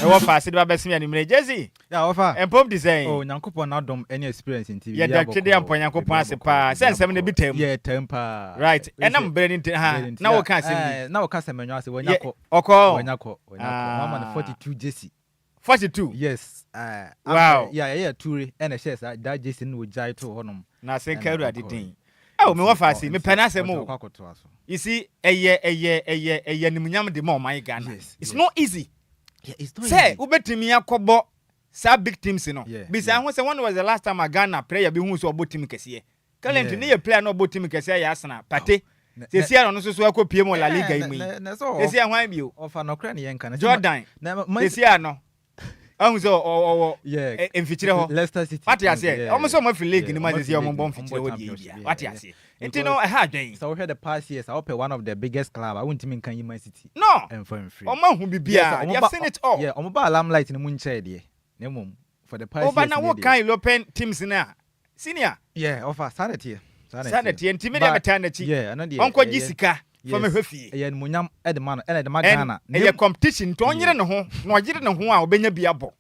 ɛwɔ faase de ba bɛseme anwummere JCR Yeah, ɔfa. Ɛmpom te sɛn? Oh, Nyankopɔn n'adom ne experience nti biribiara bɔkɔɔ. Yɛda twede ampa Nyankopɔn ase paa sɛ nsɛm no bi taa mu. Yeah, ɛtaa mu paa. Right, ɛnam bere no nti ha, na wo ka asɛm bi. Na wo ka asɛm ɛnwa ase, wanya kɔ. Ɔkɔ? Wanya kɔ, wanya kɔ. Wɔn ama no 42 jersey. 42? Yes, ah. Wow. Yeah, yɛyɛ ature ɛna ɛhyɛɛ saa, that jersey no na ɔgyae too hɔ nom. Na ase nka Awurade din. Oh, me wɔfa ase, mepɛ n'asɛm o. Ɔde ɔkɔ akɔtoa so. You see, ɛyɛ, ɛyɛ, ɛyɛ, ɛyɛ animuonyam de ma ɔman Ghana. Yes, yes. It's not easy. Sɛ wobɛtumi akɔbɔ saa big teams no, bisa ho sɛ when was the last time a Ghana player bi huu sɛ ɔbɔ team kɛseɛ. Currently ne yɛ player no a ɔbɔ team kɛseɛ yɛ Arsenal, Partey. Seesei ara ɔno nso so akɔ pue mu wɔ La Liga yi mu yi. Seesei ara hwan bio? Jordan. Seesei ara no ahu sɛ ɔwɔ mfikyire hɔ. Wate aseɛ? Wɔn nso wɔafiri league no mu a seesei wɔmmɔ mfikyire hɔ deɛ yi biara. Wate aseɛ? Nti no ɛha adwen. Sɛ wohwɛ the past years a wopɛ one of the biggest club a wontumi nka nyi man city No! mfa mfiri mu. Wɔn ahu biribiara, they have seen it all. Yeah, wɔn baa limelight no mu nkyɛɛ deɛ, na mmom for the past years nie deɛ. Ɔfa na wo kan European teams no a, senior. Yeah, ɔfa, saa na ɛteɛ. Saa na ɛteɛ, nti me deɛ metaa n'akyi, ɔnkɔ gye sika. fa me hwɛ fie. Ɛyɛ animuonyam de ma no ɛna ɛde ma Ghana. And ɛyɛ competition nti ɔnyere ne ho na ɔyere ne ho a ɔbɛnya bi abɔ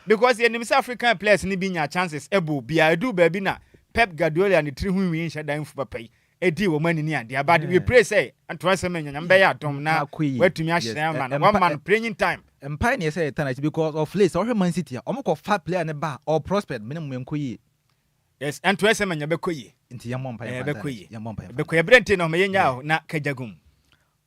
because yɛnim sɛ African players no bi nya chances bɔ obiara ɛduu baabi na Pep Guardiola ne tiri ho nwii nhyɛ da mfu papa yi ɛdii wɔn ani ne adeɛ but we pray sɛ Antoine Semenyo Nyame bɛyɛ adom na watumi ahyerɛn ama no wama no playing time. Mpae na ɛsɛ sɛ yɛtena akyi because of late sɛ wohwɛ Man City a wɔkɔ fa player no ba a ɔprospered meaning ɔnkɔ yie. Yes, ɛnto ɛsɛ manya bɛkɔ yie. Nti yɛn mɔ mpa yɛn fa nsa yɛn yɛn mɔ mpa yɛn fa. Bɛkɔ yɛ bere nti na ɔmɛ yɛn nya ahɔ na kagya gum.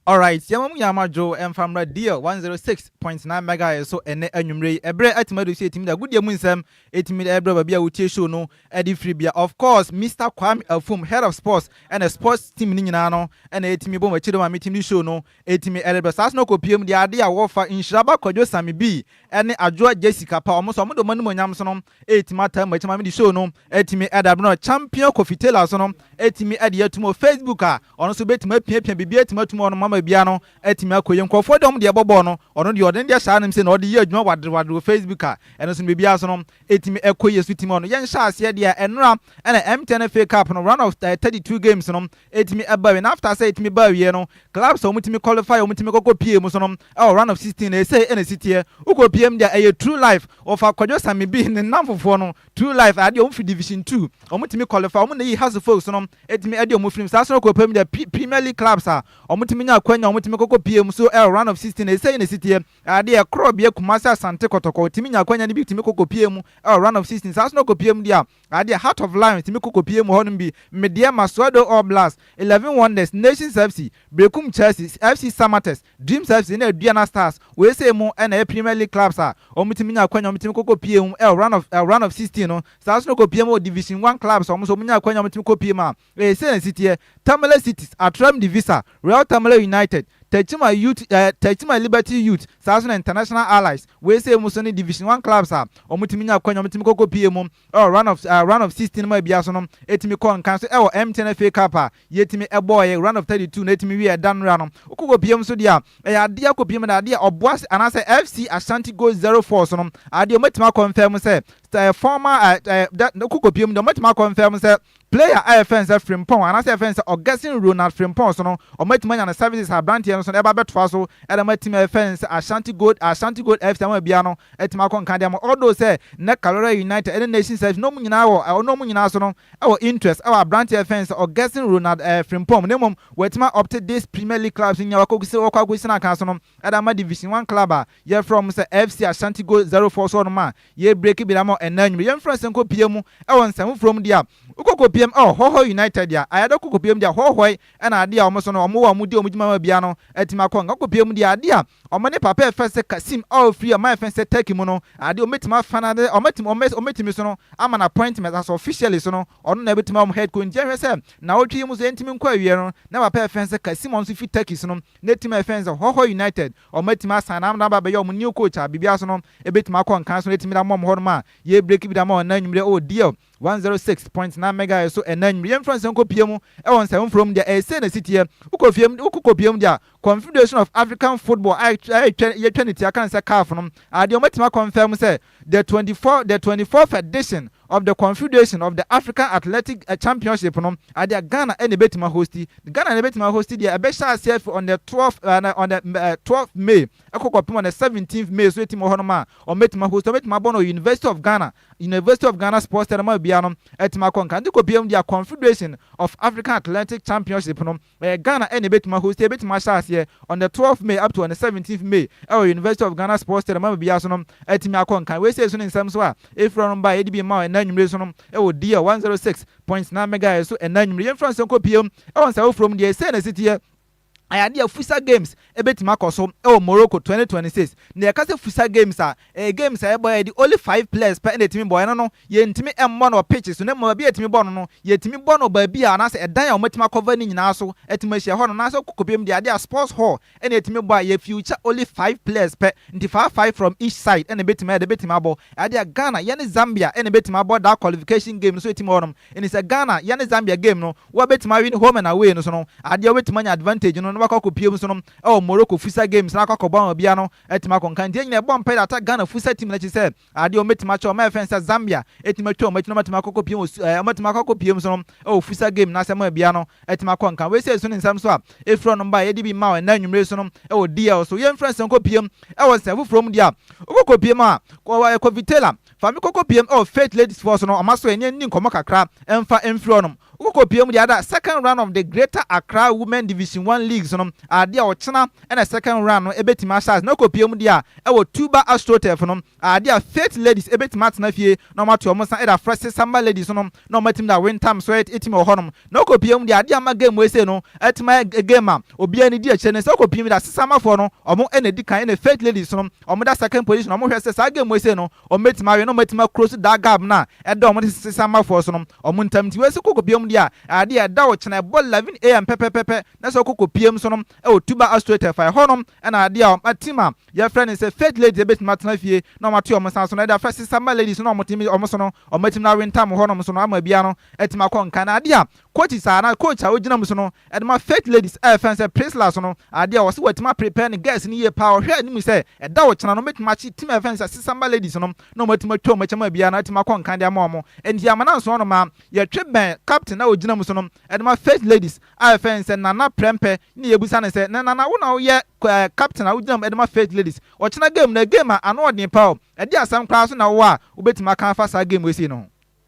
Alright, yɛma mo nyinaa mo adwo mfa mmra Deal 106.9 Megahertz so ɛnnɛ anwummere yi. Ɛberɛ atumi adu sɛ yɛtumi de agodie mu nsɛm ɛtumi de ɛrebrɛ baabi a wotie show no de firi bia. Of course, Mister Kwame Afum, Head of Sports, ɛna Sports team no nyinaa no ɛna ɛtumi bɔ m'akyi de ma metumi de show no Etumi ɛde dɔ saa so na ɔkɔ pie mu de ade a wɔ fa nhyira ba kwadwo sami bi ɛne adwoa Jessica pa ɔmo so ɔmo de ɔmo animonyam so no etumi ataa mu ɛkyɛ maame de show no etumi ɛda bere no champion kofi taylor so no etumi ɛde atum wɔ facebook a ɔno so betumi apiapia biribi etumi atum ɔno mama bia no etumi akɔ yie nkorɔfoɔ de ɔmo deɛ bɔbɔɔ no ɔno deɛ ɔde ne deɛ hyɛ anim sɛ na ɔde yɛ adwuma wadere wadere wɔ facebook a ɛno so no biribi aso no Etumi kɔ yɛ sutimo ano. Yɛn hyɛ aseɛ deɛ a ɛnora ɛna MTN FA cup no run of thirty two games no ɛtumi ɛba awie na after sɛ ɛtumi ba awieɛ no clubs a wɔtumi qualify wɔtumi kɔ kɔ pie mu so no ɛwɔ run of sixteen na ɛsei ɛna ɛsiteɛ wokɔ pie mu deɛ a ɛyɛ true life wɔfa kwadwo same bi ne nnamfofoɔ no true life adeɛ wɔn firi division two wɔtumi qualify wɔn na yi hase folks no ɛtumi ɛde wɔn firi mu saa so no kɔ pie mu deɛ premier league clubs a wɔtumi nya akwanya wɔtumi kɔ kɔ pie mu so ɛwɔ run of sixteen na ɛsei na ɛsiteɛ Adeɛ korɔ bia Kumasi Asante Kɔtɔkɔ tumi nya akwanya no bi tumi kɔ kɔpie mu wɔ round of sixteen saa nso na ɔkɔpie mu deɛ a adeɛ Heart of Lions tumi kɔ kɔpie mu wɔ hɔnom bi Medeɛ Masuadoh All Blast Eleven Wonders Nations FC Berekum Chelsea FC Samatex Dreams FC ne Aduana Stars wei sei mo na ɛyɛ Premier League clubs a wɔn tumi nya akwanya wɔn tumi kɔ kɔpie mu wɔ round of round of sixteen no saa nso na ɔkɔpie mu wɔ Division One clubs a wɔn nso wɔn nya akwanya wɔn tumi kɔpie mu a Ee sɛ nsi teɛ, Tamale Cities, Atrem Divisa, Real Tamale United, Tachima Youth eh, Tachima Liberty Youth, saa nso na International Allies, wei sei mu nso ne Division One Clubs a wɔn tumi nya akwanya wɔn tumi kɔ kɔ pie mu ɛwɔ Round of eh, Round of Sixteen mu a bia nso no ɛtumi kɔ nkan nso ɛwɔ MTN FA Cup a yɛtumi ɛbɔɔɛ Round of Thirty Two no ɛtumi wieɛ ɛda nnora no wokɔ kɔ pie mu nso deɛ a ɛyɛ adeɛ akɔ pie mu na adeɛ Ɔboase anaasɛ FC Ashanti Gold Zero Four so no adeɛ wɔn atumi akɔ mfɛɛ mu sɛ eh, former eh, eh, da, wokɔ kɔ pie mu deɛ wɔn atumi akɔ mfɛɛ mu sɛ Player a yɛfrɛ no sɛ Frimpong anaasɛ yɛfrɛ no sɛ Augustin Ronald Frimpong so no, wɔatumi anya ne services a aberanteɛ no so no ɛba bɛtoa so de ma team a yɛfrɛ no sɛ Ashanti Gold Ashanti Gold FC ama biara no atumi akɔ nka de ama although sɛ nnɛ Karora United ne Nations FC no wɔn nyinaa wɔ wɔn wɔn nyinaa so no wɔ interest wɔ aberanteɛ a yɛfrɛ no sɛ Augustin Ronald eh Frimpong na mmom wɔatumi a opte this Premier League clubs nyinaa wɔakɔ akɔsi wɔakɔ akɔsi n'akan so no de ama Division One club a Yɛfrɛ wɔn sɛ FC Ashanti Gold Zerofoɔ so wɔnom a yɛ breaki binom ama ɛnnɛ anwummerɛ yɛmfrɛ wɔn sɛ nkɔ pie mu wɔ nsɛm foforɔ mu deɛ a wokɔ kɔ pie mu wɔ Hɔhɔe United deɛ a ayɛ dɛ kɔ kɔ pie mu deɛ a Hɔhɔe ɛna adeɛ a wɔn so no wɔn wɔ wɔn di wɔn dwuma ma biara no atumi akɔ nkɔ kɔ pie mu deɛ adeɛ a wɔn ne papa yɛfrɛ sɛ Kasim a ɔfiri ɔman yɛfrɛ sɛ Turkey mu no adeɛ wɔn bɛtumi afa no adeɛ wɔn atumi wɔn bɛtumi so no ama no appointment as officially so no ɔno na ɛbɛtumi ama wɔn head coach nti yɛhwɛ sɛ nnawɔtwe yi mu so yɛntumi nkɔ awieɛ no na papa yɛfrɛ sɛ Kasim a ɔno nso firi Turkey so no n'team a yɛfrɛ no sɛ Hɔhɔe United Ɔmo atumi asan na na aba abɛyɛ ɔmo new coach a biribiara so no ebetumi akɔ nkan so na atumi de ama ɔmo hɔnom a yɛrebreki bi de ama wɔn ɛnnɛ anwummere wɔ DL one zero six point nine megahertz so ɛnnɛ anwummere. Yɛmfa nsɛm nkɔpue mu wɔ nsɛm foforɔ mu deɛ, ɛyɛ sei na ɛsi teɛ, wokɔ fie mu, wokɔ kɔpue mu deɛ a, Confederation of African Football a yɛtwa ne ti aka no sɛ CAF no, adeɛ ɔmo atumi akɔnfɛm sɛ The twenty four the twenty fourth edition of the Confederation of the African Athletic Championship no adeɛ a Ghana na ɛbɛtumi ahosti. Ghana na ɛbɛtumi ahosti deɛ ɛbɛhyɛ aseɛ afiri on the twelve on the twelve May ɛkɔ kɔpem on the seventeenth May so ɛtim wɔ hɔnom a wɔbɛtumi ahosti wɔbɛtumi abɔ no University of Ghana University of Ghana Sports Stadium a obiara no ɛtumi akɔ nka nti kɔpie mu deɛ Confederation of African Athletic Championship no Ɛyɛ Ghana ɛna ɛbɛtumi a hosti, ɛbɛtumi ahyɛ aseɛ on the twelfth May up to on the seventeenth May ɛwɔ University of Ghana Sports Stadium ama biaa so no atumi akɔ nkan. Wei sei so ne nsɛm nso a ɛfiri ɔnom baeɛ yɛde bi rema wo ɛnnɛ anwumerɛ yi so no ɛwɔ DL one zero six point nine megahertz so ɛnnɛ anwumerɛ. Yɛmfiri ase nkɔ pie mu ɛwɔ nsaeɛ foforɔ mu deɛ sei na ɛsiteɛ. Ayɛ adeɛ a Futsal Games Ebetumi akɔ so wɔ Morocco twenty twenty six. Nea yɛka sɛ futsal games a, ɛyɛ games a yɛbɔ a yɛde only five players pɛ na etumi bɔ. Ɛno no, yɛntumi mmɔ no wɔ pitch so na mmom baabi a yɛtumi bɔ no no, yɛtumi bɔ no baabi a anaasɛ ɛdan a wɔatumi akɔva no nyinaa so atumi ahyia hɔ no anaasɛ wokɔ kɔbiem deɛ ade a sports hall na yɛtumi bɔ a yɛ future only five players pɛ nti five five from each side na ɛbɛtumi ayɛ dɛ bɛtumi abɔ ade a Ghana yɛne Zambia na ɛbɛtumi abɔ daa qualification game no so ɛtumi wɔ hɔnom ɛni sɛ Ghana yɛne Zambia game no Wɔbɛtumi awe no home and away no so no adeɛ wobɛtumi anya advantage no na wakɔ akɔ pue mu so no ɛwɔ Morocco futsal games no akɔ akɔ bɔ ama obiara no atumi akɔ nka nti yɛn nyinaa ɛbɔ mpae de ata Ghana futsal team no akyi sɛ adeɛ wɔn bɛtumi akyɛ wɔn a ɛfɛn sɛ Zambia atumi atwa wɔn akyi na wɔn atumi akɔ akɔ pue wɔ su ɛɛ wɔn atumi akɔ akɔ pue mu so no ɛwɔ futsal game no ase ama obiara no atumi akɔ nka wei sɛ ɛso ne nsɛm so a ɛfiri ɔnom ba a yɛde bi mma wɔn ɛnnɛ anwummere so no ɛwɔ DL so yɛn mfrɛ nsɛm kɔ pue mu ɛwɔ nsɛm foforɔ mu deɛ a wokɔ kɔ pue mu a kɔ ɛɛ kɔ Vitelha Fa me kɔkɔ piem ɛwɔ Faith Ladies Force no ɔma so ɛneɛ nni nkɔmmɔ kakra ɛmfa ɛmfiri hɔnom. Wo kɔkɔ piem deɛ ada second round of the Greater Accra Women Division One Leagues no ade a ɔkyena ɛna second round no ɛbɛtumi ahyɛ ase na wokɔ piem deɛ a ɛwɔ Tuba Astroturf no ade a Faith Ladies ɛbɛtumi atena fie na wɔn atoa wɔn nsa ɛde afrɛ Sesamba Ladies no na wɔn atumi de awe ntam so ɛtumi wɔ hɔnom Na ɔkɔpie mu deɛ adeɛ a ama game wei sei no atumi ayɛ game a obiara ani gye akyire ne sɛ ɔkɔpie mu deɛ asesaamafoɔ no ɔmo na edi kan ɛna fake ladies no ɔmo da second position ɔmo hwɛ sɛ saa game wei sei no ɔmo bɛtumi awe na ɔmo atumi a close that gap no a ɛda ɔmo ne sesaamafoɔ so no ɔmo ntam nti wei sɛ ɔkɔkɔpie mu deɛ a adeɛ a ɛda ɔkyena ɛbɔ 11 am pɛpɛpɛpɛ na sɛ ɔkɔkɔpie mu so no ɛwɔ tu ba astro tɛfa ɛhɔ no ɛna adeɛ a ɔma team a yɛfrɛ ne sɛ fake ladies ɛbɛtumi atena fie na ɔmo ate ɔmo nsa so na ɛde afra sesaama ladies no na ɔmo tumi ɔmo so no ɔmo atumi na awe ntam hɔ nom so no ama biara no Ɛte ma kɔ nkan ade a coach saa anaa coach a ogyina mu so no de ma fake ladies a ɛfɛn sɛ Priscilla so no ade a ɔse watumi a prepare ne girls no yie paa ɔhwɛ anim sɛ ɛda ɔkyena no ɔmo bɛtumi akye team a ɛfɛn sɛ Sesamba ladies no na ɔmo atumi atwa ɔmo akyɛ mu a biaa no atumi akɔ nkan de ama ɔmo enti amana nsoɔ no maa yɛtwe bɛn captain a ogyina mu so no de ma fake ladies a ɛfɛn sɛ Nana Prɛmpɛ ne yɛbisa no sɛ na Nana wo na woyɛ ɛɛ captain a wogyina mu de ma fake ladies ɔkyena game no game a ano ɔden paa o ɛde asɛm koraa nso na wowɔ a wobɛtumi aka afa saa game wei sei no ho.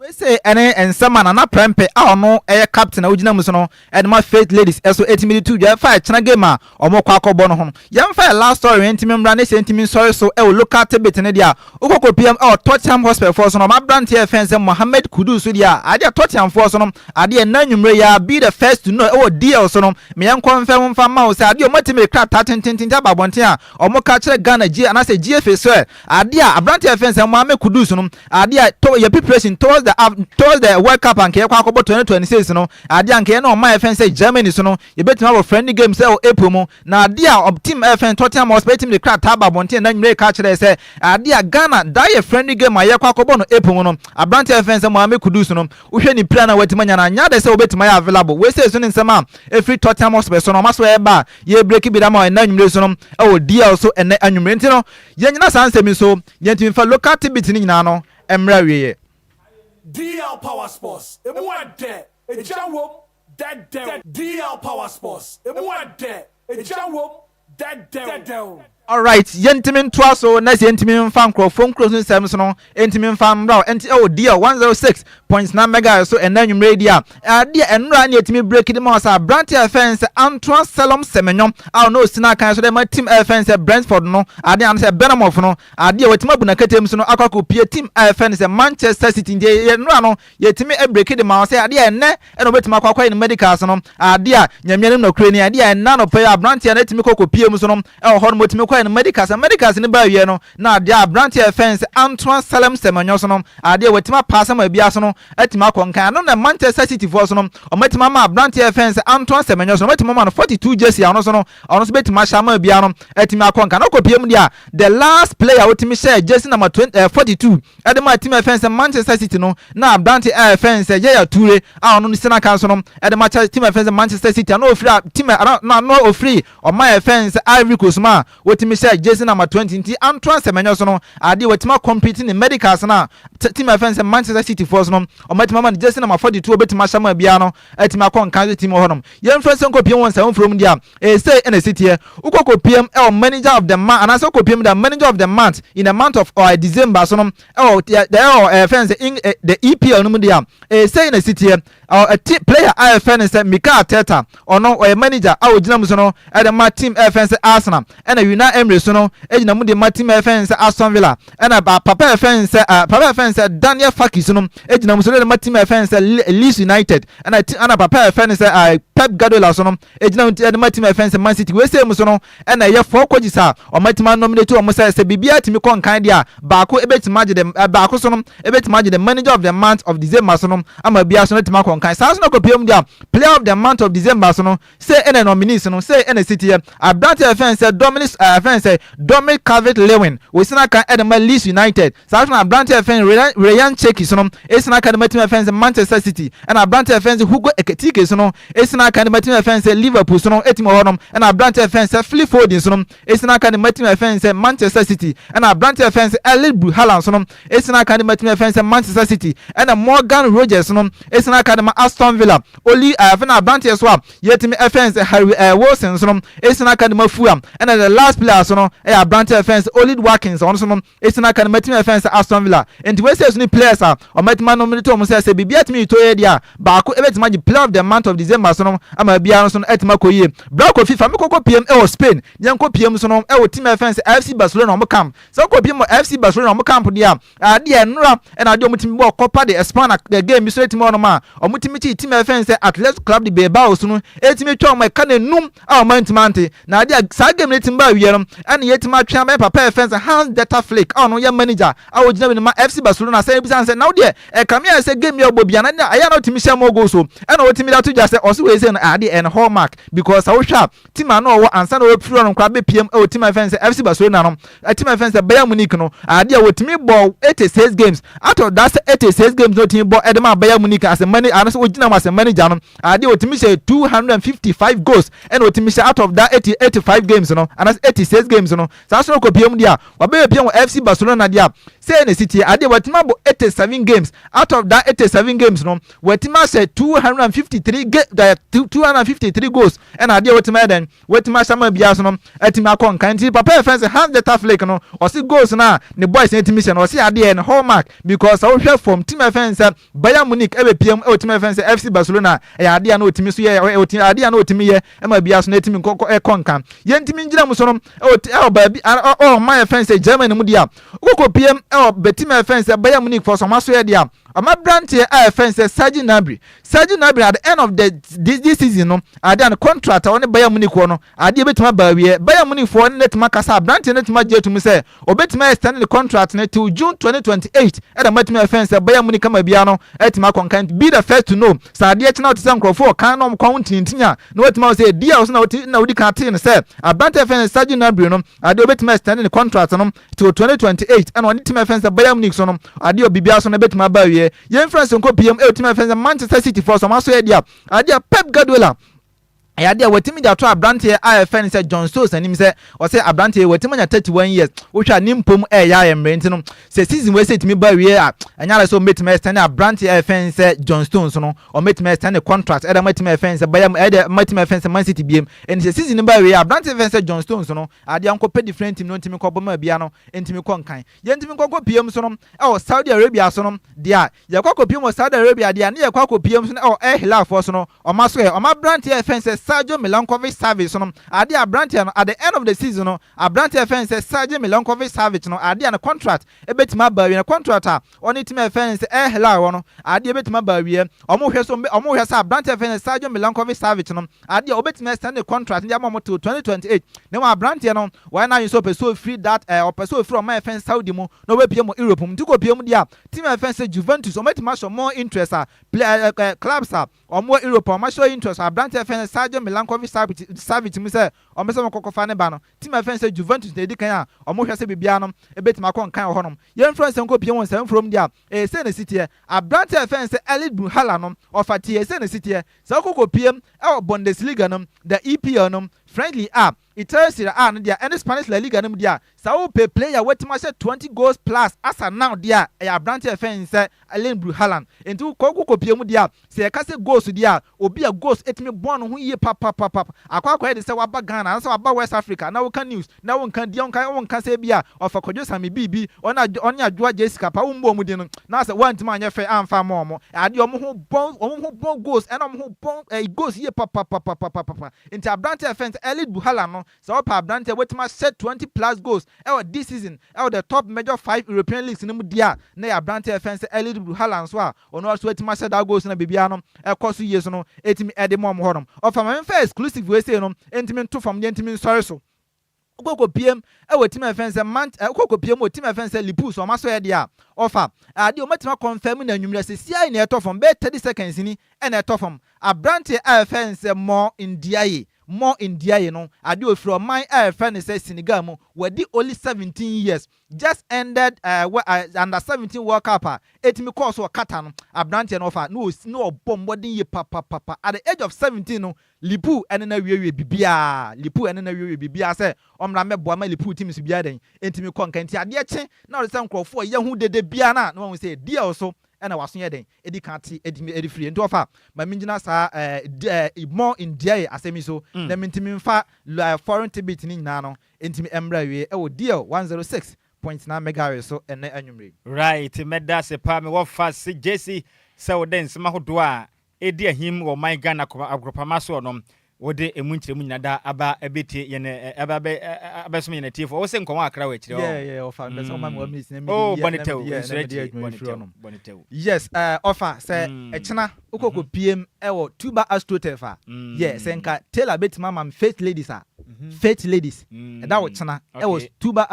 Wei sei ne nsɛm a Nana Prempeh a ɔno yɛ captain a ogyina mu so no de ma Faith Ladies so tumi de to dwa fa ɛkyena game a wɔkɔ akɔbɔ no ho no. Yɛmfa yɛn last story wei ntimi mmra ne sɛ ntimi nsɔre so wɔ local tidbit no deɛ a, wokɔ kɔpiam wɔ Tottenham Hotspur foɔ so no, wɔn aberante a yɛfrɛ no sɛ Mohammed Kudus so deɛ a, adeɛ Tottenham foɔ so no, adeɛ nnɛ anwumerɛ yi ara, be the first to know wɔ DL so no, me yɛnkɔ mfɛm mfa mma wo sɛ adeɛ wɔatumi de krataa tentententen aba abɔnten a wɔka kyerɛ Ghana GA anaasɛ GFA sɛ, Adeɛ a abranteɛ a yɛfrɛ no sɛ Mohammed Kudus no adeɛ a to yɛ preparation towards the af towards the World Cup a nka yɛkɔ akɔbɔ twenty twenty six no adeɛ a nka yɛne ɔman a yɛfrɛ no sɛ Germany so no yɛbɛtumi abɔ friendly game sɛ wɔ April mu na adeɛ a ɔb team a yɛfrɛ no Tottenham Hotspur yɛtumi de krataa aba abɔnten ɛna nwummerɛ yi ka kyerɛɛ sɛ adeɛ a Ghana daa yɛ friendly game a yɛkɔ akɔbɔ no April mu no abranteɛ a yɛfrɛ no sɛ Mohammed Kudus no wohwɛ ne pira no a watumi anya no anyɛ adɛ sɛ wɔbɛtumi ayɛ available wei sei so ne nsɛm a ɛfiri Tottenham Hotspur so no wɔn aso ɛreba a yɛrebreki bi de ama wo ɛna nwummerɛ yi so no ɛwɔ DL so ɛnɛ anwummerɛ nti no Yɛnnyina saa nsɛm yi so, yɛntumi mfa local tidbits no nyinaa no mmrɛ awieɛ. DL power sports emu ɛdɛ egya wom dɛdɛw DL power sports emu ɛdɛ egya wom dɛdɛw. Alright, yɛntumi ntoa so na sɛ yɛntumi mfa nkorɔfoɔ nkuro so nsɛms no Enti me mfa mmra wo nti oh dear 106.9 megahertz so ɛnɛ anwumerɛ yi dear eh adeɛ ɛnora ɛne ɛtumi break de ma wo sɛ abranteɛ a ɛfɛn sɛ Antoa Selom Semenyo a ɔno ɔsi n'akan so dɛ ma team a ɛfɛn sɛ Brentford no adeɛ ano sɛ Benamoff no adeɛ watumi abu n'akatamu so no akɔ akɔ pie team a ɛfɛn sɛ Manchester City nti ɛnora no Yɛtumi ɛbreki de ma wo sɛ adeɛ a ɛnnɛ na wobɛtumi akɔ akɔyɛ no medicals no adeɛ a Nyame anim nɔkorɛ ni adeɛ a ɛnnɛ anɔpa yi abranteɛ no atumi kɔ kɔ pie mu so no ɛwɔ hɔ nom ɔtumi kɔyɛ no medicals na medicals no ba awieɛ no na adeɛ a abranteɛ a yɛfrɛ no sɛ Antoine Salem Semenyo so no adeɛ a watumi apaase ama bia so no atumi akɔ nkan ɛno na Manchester City foɔ so no ɔmo atumi ama abranteɛ a yɛfrɛ no sɛ Antoine Semenyo so no ɔmo atumi ama no 42 jersey a ɔno so no ɔno so bɛtumi ahyɛ ama bia no atumi akɔ nkan na ɔkɔ pie mu deɛ a the last player a ɔtumi hyɛɛ jersey number 20 ɛɛ 42 Ɛde maa team a ɛfɛn sɛ Manchester City no na aberante a ɛfɛn sɛ Yaya Toure a ɔno ne center kan so no de ma kyɛ team a ɛfɛn sɛ Manchester City a na ofiri a team a na na na ofiri ɔman a ɛfɛn sɛ Ivory Coast mu a otumi hyɛ jersey number twenty nti anto asɛmɛnyɛ so no adeɛ watumi a complete ne medicals no a team a ɛfɛn sɛ Manchester City foɔ so no wɔatumi ama no jersey number forty two a obetumi ahyɛ ama biara no Ɛtumi akɔ nkan so tim wɔ hɔnom. Yɛmfa sɛ wokɔpiem wɔ nsaho mfurom deɛ a, ɛyɛ sei na ɛsi teɛ, Wokɔ kɔpiem wɔ manager of the month anaasɛ wokɔpiem da manager of the month in the month of ɔɛ December so no wɔ deɛ ɛwɔ ɛɛ fɛn sɛ ing ɛ the EPL no mu deɛ a, ɛyɛ sei na ɛsi teɛ, Ɔ ɛ ti player a yɛfɛ no sɛ Mikel Arteta, ɔno ɔyɛ manager a ɔgyina mu so no de ma team ɛɛ fɛn sɛ Arsenal. Ɛna Yuna mmere so no, egyina mu de ma tim a ɛfɛn sɛ Aston Villa. Ɛna papa a ɛfɛn sɛ uh, papa a ɛfɛn sɛ Daniel Farke so no, egyina mu so de ma tim a ɛfɛn sɛ Leeds United. Ɛna ɛna papa a ɛfɛn sɛ uh, Pep Guardiola so no, egyina mu de ma tim a ɛfɛn sɛ Man City. Wei sei mu so no, ɛna ɛyɛ four coaches a wɔatumi anominate wɔn sɛ sɛ biribiara tumi kɔ nkan deɛ a, baako ebetumi agye dɛm uh, baako so no ebetumi agye dɛm manager of the month of December so no ama biara so no atumi akɔ nkan. Saa so na kɔpie mu deɛ a player of the month of December so no Sei ɛna nominees no, sei ɛna ɛsi teɛ, Aberanteɛ a yɛfrɛ no sɛ Dominic ɛɛ yɛfrɛ no sɛ Dominic Calvert-Lewin, ɔsi n'akan ɛde ma Leeds United. Saa ara nso na aberanteɛ a yɛfrɛ no Rayan Rayan Ceki nso no, ɛsi n'akan ɛde ma team a yɛfrɛ no sɛ Manchester City. Ɛna aberanteɛ a yɛfrɛ no sɛ Hugo Ekitike nso no, ɛsi n'akan ɛde ma team a yɛfrɛ no sɛ Liverpool nso no, team wɔ hɔ nom. Ɛna aberanteɛ a yɛfrɛ no sɛ Philip Foden nso no, ɛsi n'akan ɛde ma team a yɛfrɛ no sɛ Manchester City. Ɛna aberanteɛ a yɛfrɛ no sɛ Erling Braut Haaland nso no, Asian aka no matumi afɛn sɛ Manchester City ɛna Morgan Rogers no asian aka no ma Aston Villa Oli a afei na abranteɛ so a yɛtumi ɛfɛn sɛ Harry ɛɛ Wilson so no asian aka no ma Fulham ɛna the last player so no ɛyɛ abranteɛ ɛfɛn sɛ Ollie Watkins ɔno so no asian aka no matumi afɛn sɛ Aston Villa nti wɛsɛ so no players a ɔmatumi anom de to mu sɛ sɛ biribi atumi to yɛ deɛ a baako ɛbɛtumi agye player of the month of December so no ama biara no so no atumi akɔ yie bra Kofi fa me kɔkɔ piem ɛwɔ Spain deɛ nkɔ piem so no ɛwɔ team ɛfɛn sɛ FC Barcelona ɔmo camp Sɛ wokɔ bi mu FC Barcelona wɔn camp deɛ a, adeɛ a nnora na adeɛ a wɔtumi bɔ Copa de España game bi so no tumi wɔ hɔnom a, wɔtumi kyi team a yɛfrɛ no sɛ Athletic Club de Bilbao so no tumi twa wɔn a ɛka nnum a wɔantumi ante. Na adeɛ a saa game no tumi ba awieɛ no ɛna yɛtumi atwe ama yɛn papa a yɛfrɛ no sɛ Hans-Dieter Flick a ɔno yɛ manager a ɔgyina bi no ma FC Barcelona sɛ yɛbisa no sɛ na wo deɛ ɛkame ayɛ sɛ game bi a wobɔ biara no ɛyɛ a na wotumi hyɛ more goals o ɛna ɔtumi de ato dwa sɛ ɔse wei sei no adeɛ ɛyɛ ne hallmark because sɛ wohwɛ a team a na ɔwɔ ansa na ɔrefiri hɔ no koraa bɛpiam wɔ team a yɛfrɛ no sɛ FC Barcelona no, team a yɛfrɛ no sɛ Bayern Munich no, adeɛ a wɔtumi bɔɔ 86 games, out of that 86 games na ɔtumi bɔ de maa Bayern Munich as a manager, anasɛ ɔgyina mu as a manager no, adeɛ ɔtumi hyɛ 255 goals ɛna ɔtumi hyɛ out of that 80, 85 games no, anasɛ 86 games no, saa so no kɔpiam deɛ a, wabɛpiam wɔ FC Barcelona deɛ a, sɛ na ɛsi tie, adeɛ wɔatumi abɔ 87 games, out of that 87 games no, Watumi ahyɛ two hundred and fifty three ge eh, two two hundred and fifty three goals ɛna adeɛ watumi ayɛ dɛn watumi ahyɛ ama biara so no atumi akɔ nkan nti papa yɛ fɛn sɛ Hans Dieter Flick no ɔsi goals no a ne boys no atumi hyɛ no ɔsi adeɛ yɛ no hallmark because sɛ wohwɛ fam team ɛfɛn sɛ Bayern Munich ɛbɛ pm ɛwɔ team ɛfɛn sɛ FC Barcelona ɛyɛ adeɛ a na otumi so yɛ ɛwɔ team adeɛ a na otumi yɛ ɛma biara so na atumi nkɔ kɔ ɛkɔ nkan yɛn ntumi ngyina mu so no ɛwɔ te- ɛwɔ baabi a- ɔ- ɔ- ɔman ɛfɛn sɛ Germany mu deɛ a wokɔ pm ɛwɔ bɛ team ɛfɛn sɛ Bayern Munich fɔ so ɔmo aso yɛ deɛ a Ɔmaberanteɛ a yɛfrɛ no sɛ Serge Gnabry, Serge Gnabry at the end of the this this season no adeɛ a ne contract a ɔne Bayern Munich wɔ no adeɛ bɛtumi aba awieɛ. Bayern Munich foɔ ne no atumi akasa, aberanteɛ no atumi agye atum sɛ ɔbɛtumi a extend ne contract no till June 2028 ɛna moatumi afɛn sɛ Bayern Munich ama biara no atumi akɔ nka nti be the first to know sɛ adeɛ kye na wote sɛ nkurɔfoɔ wɔ kan na wɔn kɔn ho ntinintini a na woatumi ahu sɛ ɛdi a wo so na wote na wodi kan tee no sɛ aberanteɛ a yɛfrɛ no sɛ Serge Gnabry no adeɛ ɔbɛtumi a extend ne contract no Nti wɔ 2028 ɛna ɔde tim ɛfɛn sɛ Bayern Munich so no adeɛ wɔ biribiara so no ɛbɛtumi aba awieɛ. Yɛn mfra nso nkɔ pm ɛwɔ tim ɛfɛn sɛ Manchester City foɔ so wɔn aso yɛ deɛ a adeɛ a Pep Guardiola ɛyɛ adeɛ a watumi de ato abranteɛ a ɛfɛn sɛ John Stones anim sɛ ɔsɛ abranteɛ watumi anya 31 years wohwɛ a ne mpom ɛyɛ ayɛ mmerɛ nti no sɛ season wei sɛ ɛtumi ba awieɛ a ɛnyɛ ara sɛ ɔmɛtumi ɛstɛne abranteɛ a ɛfɛn sɛ John Stones no ɔmɛtumi ɛstɛne contract ɛde matumi ɛfɛn sɛ bɛyɛ ɛde matumi ɛfɛn sɛ Man City biem ɛni sɛ season no ba awieɛ a abranteɛ ɛfɛn sɛ John Stones no Adeɛ a nkɔpɛ different team no ntimi nkɔbɔ maa biaa no ntimi kɔ nkan yɛntimi nkɔ nkɔ piem so no ɛwɔ Saudi Arabia so no deɛ a yɛkɔ akɔ piem wɔ Saudi Arabia deɛ a ne yɛkɔ akɔ piem so no ɛwɔ Al Hilal foɔ so no ɔmo asoɛ ɔmo abranteɛ a yɛfrɛ no sɛ Sergio Milankovic Savic so no adeɛ a abranteɛ no at the end of the season no abranteɛ a yɛfrɛ no sɛ Sergio Milankovic Savic no adeɛ a ne contract ɛbɛtimi aba awie ne contract a Wɔ ne tim a yɛfrɛ no sɛ Air Hela hɔ no, adeɛ bɛtumi aba awieɛ. Wɔn hwɛ so, wɔn hwɛ sɛ aberanteɛ a yɛfrɛ no Srđan Milenković Savić no, adeɛ ɔbɛtumi asɛn ne contract no de ama wɔn till 2028. Na mmom aberanteɛ no, wayɛ n'adwene sɛ ɔpɛ sɛ ɔfiri that ɛɛ, ɔpɛ sɛ ɔfiri wɔn a yɛfrɛ no Saudi mu na ɔbɛpue mu Europe mu. Nti kɔpue mu deɛ a, team a yɛfrɛ no sɛ Juventus, wɔn bɛtumi ahyɛ more interest a, pla ɛɛ ɛɛ ɛɛ clubs a wɔn wɔ Europe a, wɔn ahyɛ interest wɔ aberanteɛ a yɛfrɛ no Srđan Milenković Savić Savić mu sɛ wɔn pɛ sɛ wɔn kɔ kɔfa ne ba no. Tim a ɛfɛn sɛ Juventus na edi kan a wɔhwɛ sɛ biribiara no betumi akɔ nkan wɔ hɔnom. Yɛmfrɛ nsɛm nkopue wɔn saa mfurom deɛ a, sei na ɛsi teɛ. Aberante a ɛfɛn sɛ Elit Bruhalla no, ɔfa teɛ, sei na ɛsi teɛ. Sɛ wokɔ kɔpue wɔ Bundesliga no mu, the EPL no mu, French-Ligue A, Italy Serie A no deɛ a, ɛne Spanish La Liga no mu deɛ a, sɛ wopɛ player a watumi ahyɛ twenty goals plus as at now deɛ a, ɛyɛ aberante a ɛfɛn sɛ Elit Bruhalla. Enti wokɔ wokɔ kɔpue mu deɛ a, Sɛ yɛka sɛ ghost deɛ a, obi a ghost tumi boa ne ho yie papapapap akɔ akɔyɛ de sɛ waba Ghana anaasɛ waba West Africa na woka news na wonka din a, wonka wonka sɛ ebia ɔfa Kwadwo Same Biibi, ɔne Adwo ɔne Adwoa Jessica paa wommɔ wɔn din no na asɛ woantumi anyɛ fɛ amfa amma wɔn. Adeɛ wɔn ho bɔ wɔn ho bɔ ghost ɛna wɔn ho bɔ ɛyi ghost yie papapapapapapa nti aberanteɛ a yɛfrɛ no sɛ Elite Buhala no Sɛ wɔpɛ aberante a obetumi ahyɛ twenty plus goals wɔ this season wɔ the top major five European leagues no mu di a, na ɛyɛ aberante a yɛfrɛ no sɛ Erlind Braut Haaland nso a ɔno ara nso atumi ahyɛ daa goals no a biribiara no kɔ so yie so no atumi de ma wɔn hɔnom. Ɔfa ma memfa exclusive wei sei no ntumi nto fam na yɛntumi nsɔre so. Wokɔ kɔpue mu wɔ team a yɛfrɛ no sɛ Mant eh, wokɔ kɔpue mu wɔ team a yɛfrɛ no sɛ Lipu so wɔn asɔeɛ deɛ a, ɔfa adeɛ a wɔatumi akɔnfɛm no anwummerɛ sɛsi ara na ɛtɔ fam bɛyɛ thirty seconds ni na ɛtɔ fam. Aberanteɛ a yɛfrɛ no sɛ Mor Ndiaye Mo India yi no ade ofiri ɔman a yɛfrɛ no sɛ Senegal mu wadi only seventeen years just ended ɛɛ under seventeen world cup a ɛtumi kɔɔ so wɔ Qatar no abranteɛ no ɔfa na ɔbɔ mmɔden yie papapapa at the age of seventeen no Lipu ɛne no awiewie biribiara Lipu ɛne no awiewie biribiara sɛ ɔmmra mmɛboa ma Lipu teams biara dɛn ɛntumi kɔ nka nti adeɛ kye na ɔde sɛ nkorɔfoɔ yɛ ho dede biara na na wahu sɛ deal so Ɛna w'aso yɛ dɛn edi kan te edi firi? Nti ɔfa ma mi gyina saa ɛɛ more in deɛɛ asɛm yi so na mi ntumi nfa ɛɛ foreign tidbit no nyinaa no ntumi mmra awie ɛwɔ DL one zero six point nine megahertz so ɛnnɛ anwummere yi. Right, mɛda ase paa me wɔ fase Gyesi sɛ wode nsɛm ahodoɔ a ɛredi ahim wɔ ɔman Ghana agorɔpama soɔ no, wode ɛmu nkyerɛmu nyina daa aba abɛtie yɛn aba abɛsom yɛn atiefoɔ. Wose nkɔnwɔ akra wɔ akyire hɔ. Yeah, yeah, ɔfa mpɛ sɛ ɔma me one minute na mede yɛ na mede yɛ na mede yɛ adwuma mfiri ɔnom. Yes, ɔfa sɛ ɛkyena wokɔ kɔ piem ɛwɔ Tuba Astroturf a, yeah, sɛ nka Taylor bɛtumi ama me Faith Ladies a, Faith Ladies, ɛda ɔkyena ɛwɔ Tuba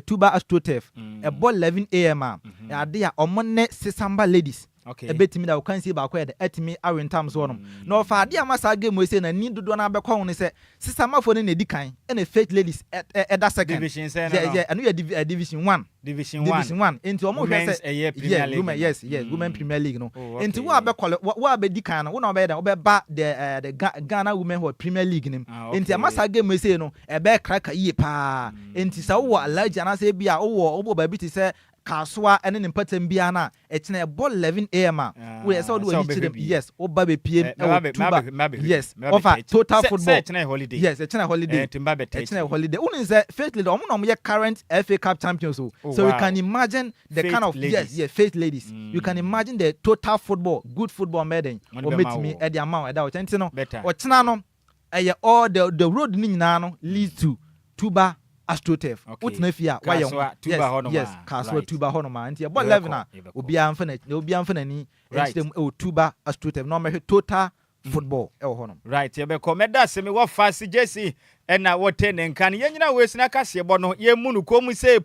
Tuba Astroturf, ɛbɔ 11 AM a, ɛyɛ adeɛ a wɔne Sesamba Ladies, Ebetumi na ɔkansie baako yɛ dɛ, atumi awe ntam so hɔnom, na ɔfaa ade a ama saa game yi sei na ani dodoɔ no ara bɛkɔ ho ne sɛ, Sesaamafoɔ no na edi kan, ɛna Faith Ladies da second. Division sɛn no no? Ɛno yɛ Division One. Division One. Division One. Nti wɔn hwɛ sɛ. Women's ɛyɛ Premier League no. Yes, yes, Women Premier League no. Oh, okay. Nti wo a bɛ kɔlɛ, wo a bɛ di kan no, wo na ɔbɛyɛ dɛ, ɔbɛba the uh, the Ghana Women wɔ Premier League nim. Ah, okay. Nti ama saa game yi sei no, ɛbɛyɛ kraka yie paa. Mm. Nti sɛ wowɔ Alhaji anaasɛ ebi a wowɔ wowɔ baabi te sɛ Kasoa ne ne mpatam biara no a, Ɛkyena ɛbɔ 11 AM a wo ɛsɛ wode w'ani kyerɛ mu yes wo ba bɛ piem ɛwɔ tuba yes wɔfa total football yes ɛkyena holiday ɛkyena holiday wo nim sɛ faith ladies ɔmo na ɔmo yɛ current FA cup champions o so you can imagine the kind of yes yes faith ladies you can imagine the total football good football ɔmo bɛyɛ dɛn ɔmo bɛtumi ɛde ama wo ɛda ɔkyena nti no ɔkyena no Ɛyɛ all the the road no nyinaa no leads to Tuba Astroturf. Okay. Wotena fie a wayɛ ho. Kasoa Tuba Yes, hɔ nom yes, a. Kasoa Right. Tuba hɔ nom a. Nti yɛbɔ Yɛbɛkɔ, 11 a, yɛbɛkɔ. obiara mfa n'akyi, obiara mfa n'ani Right. nkyerɛ mu wɔ Tuba Astroturf na ɔmmɛhwɛ total football wɔ hɔ nom. Right, yɛbɛkɔ. Mɛda ase me wɔfa se Gyesi ɛna wɔte ne nka no. Yɛnyina wɔ esina kaseɛbɔ no, yɛmmu no komm se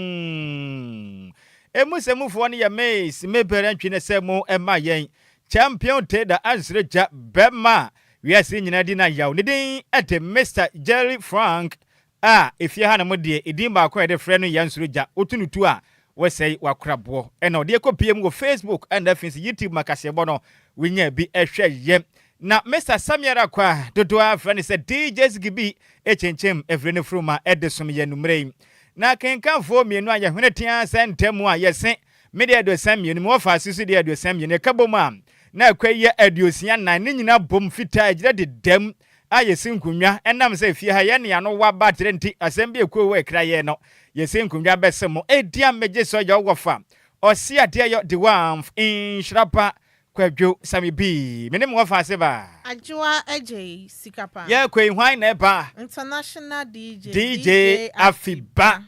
Poonng! Emu se mufoɔ no yɛ Miss, me berɛ ntwe ne sɛ mo ɛma yɛn. Champion Tader ansrɛ gya bɛma a wiase nyinaa di no ayaw. Ne din de Mister Jerry Frank a efie hanom deɛ edin baako a yɛde frɛ no yɛ Nsuro Gya, wotu no tu a wosɛe w'akoraboɔ. Ɛna ɔde ɛkɔ pm wɔ Facebook ɛna afei nso YouTube ma kaseɛbɔ no wonya bi hwɛ yɛ. Na Mister Sammy ara kwa dodoɔ ara frɛ no sɛ DJ Ziggy B kyenkyem afiri no furuma de som yɛn nummerɛ yi. Na akenkanfoɔ mmienu a yɛhwene tea sɛ ntɛm a yɛsen Me deɛ aduosia mmienu, me wɔfaase nso deɛ aduosia mmienu, ɛka bom a na akwa yɛ aduosia nan, ne nyinaa bom fitaa ɛgyina dedam a yɛsi nkonnwa, ɛnam sɛ fie ha yɛ ne ano wa ba atere nti asɛm bi ɛkuo wɔ ɛkra yɛn no yɛsi nkonnwa bɛse mo ɛdiam megye sɔ yɛ ɔwɔfa ɔse adeɛ yɔ de wamf nhyira pa kwadwo same bii me ne me wɔfaase baa. Adwoa agyei sika pa. Yɛɛkɔ yi hwan na ɛba? International DJ DJ Afi ba.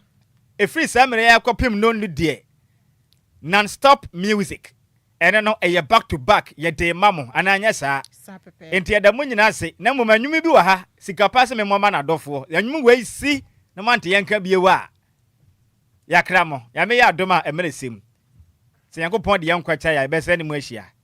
Ɛfiri saa mmerɛ yi ara kɔpem no no deɛ non stop music ɛno no ɛyɛ back to back yɛde rema mo anaa anyɛ saa? Enti yɛda mo nyinaa ase na mmom anwom bi wɔ ha sika paa sɛ memmɔ ma no adɔfoɔ anwom wei si na moante yɛnka bio a yɛakra mo Nyame yɛ adom a ɛmerɛ sɛm sɛ Nyankopɔn de yɛn nkwa kyɛ a yɛbɛsane mo ahyia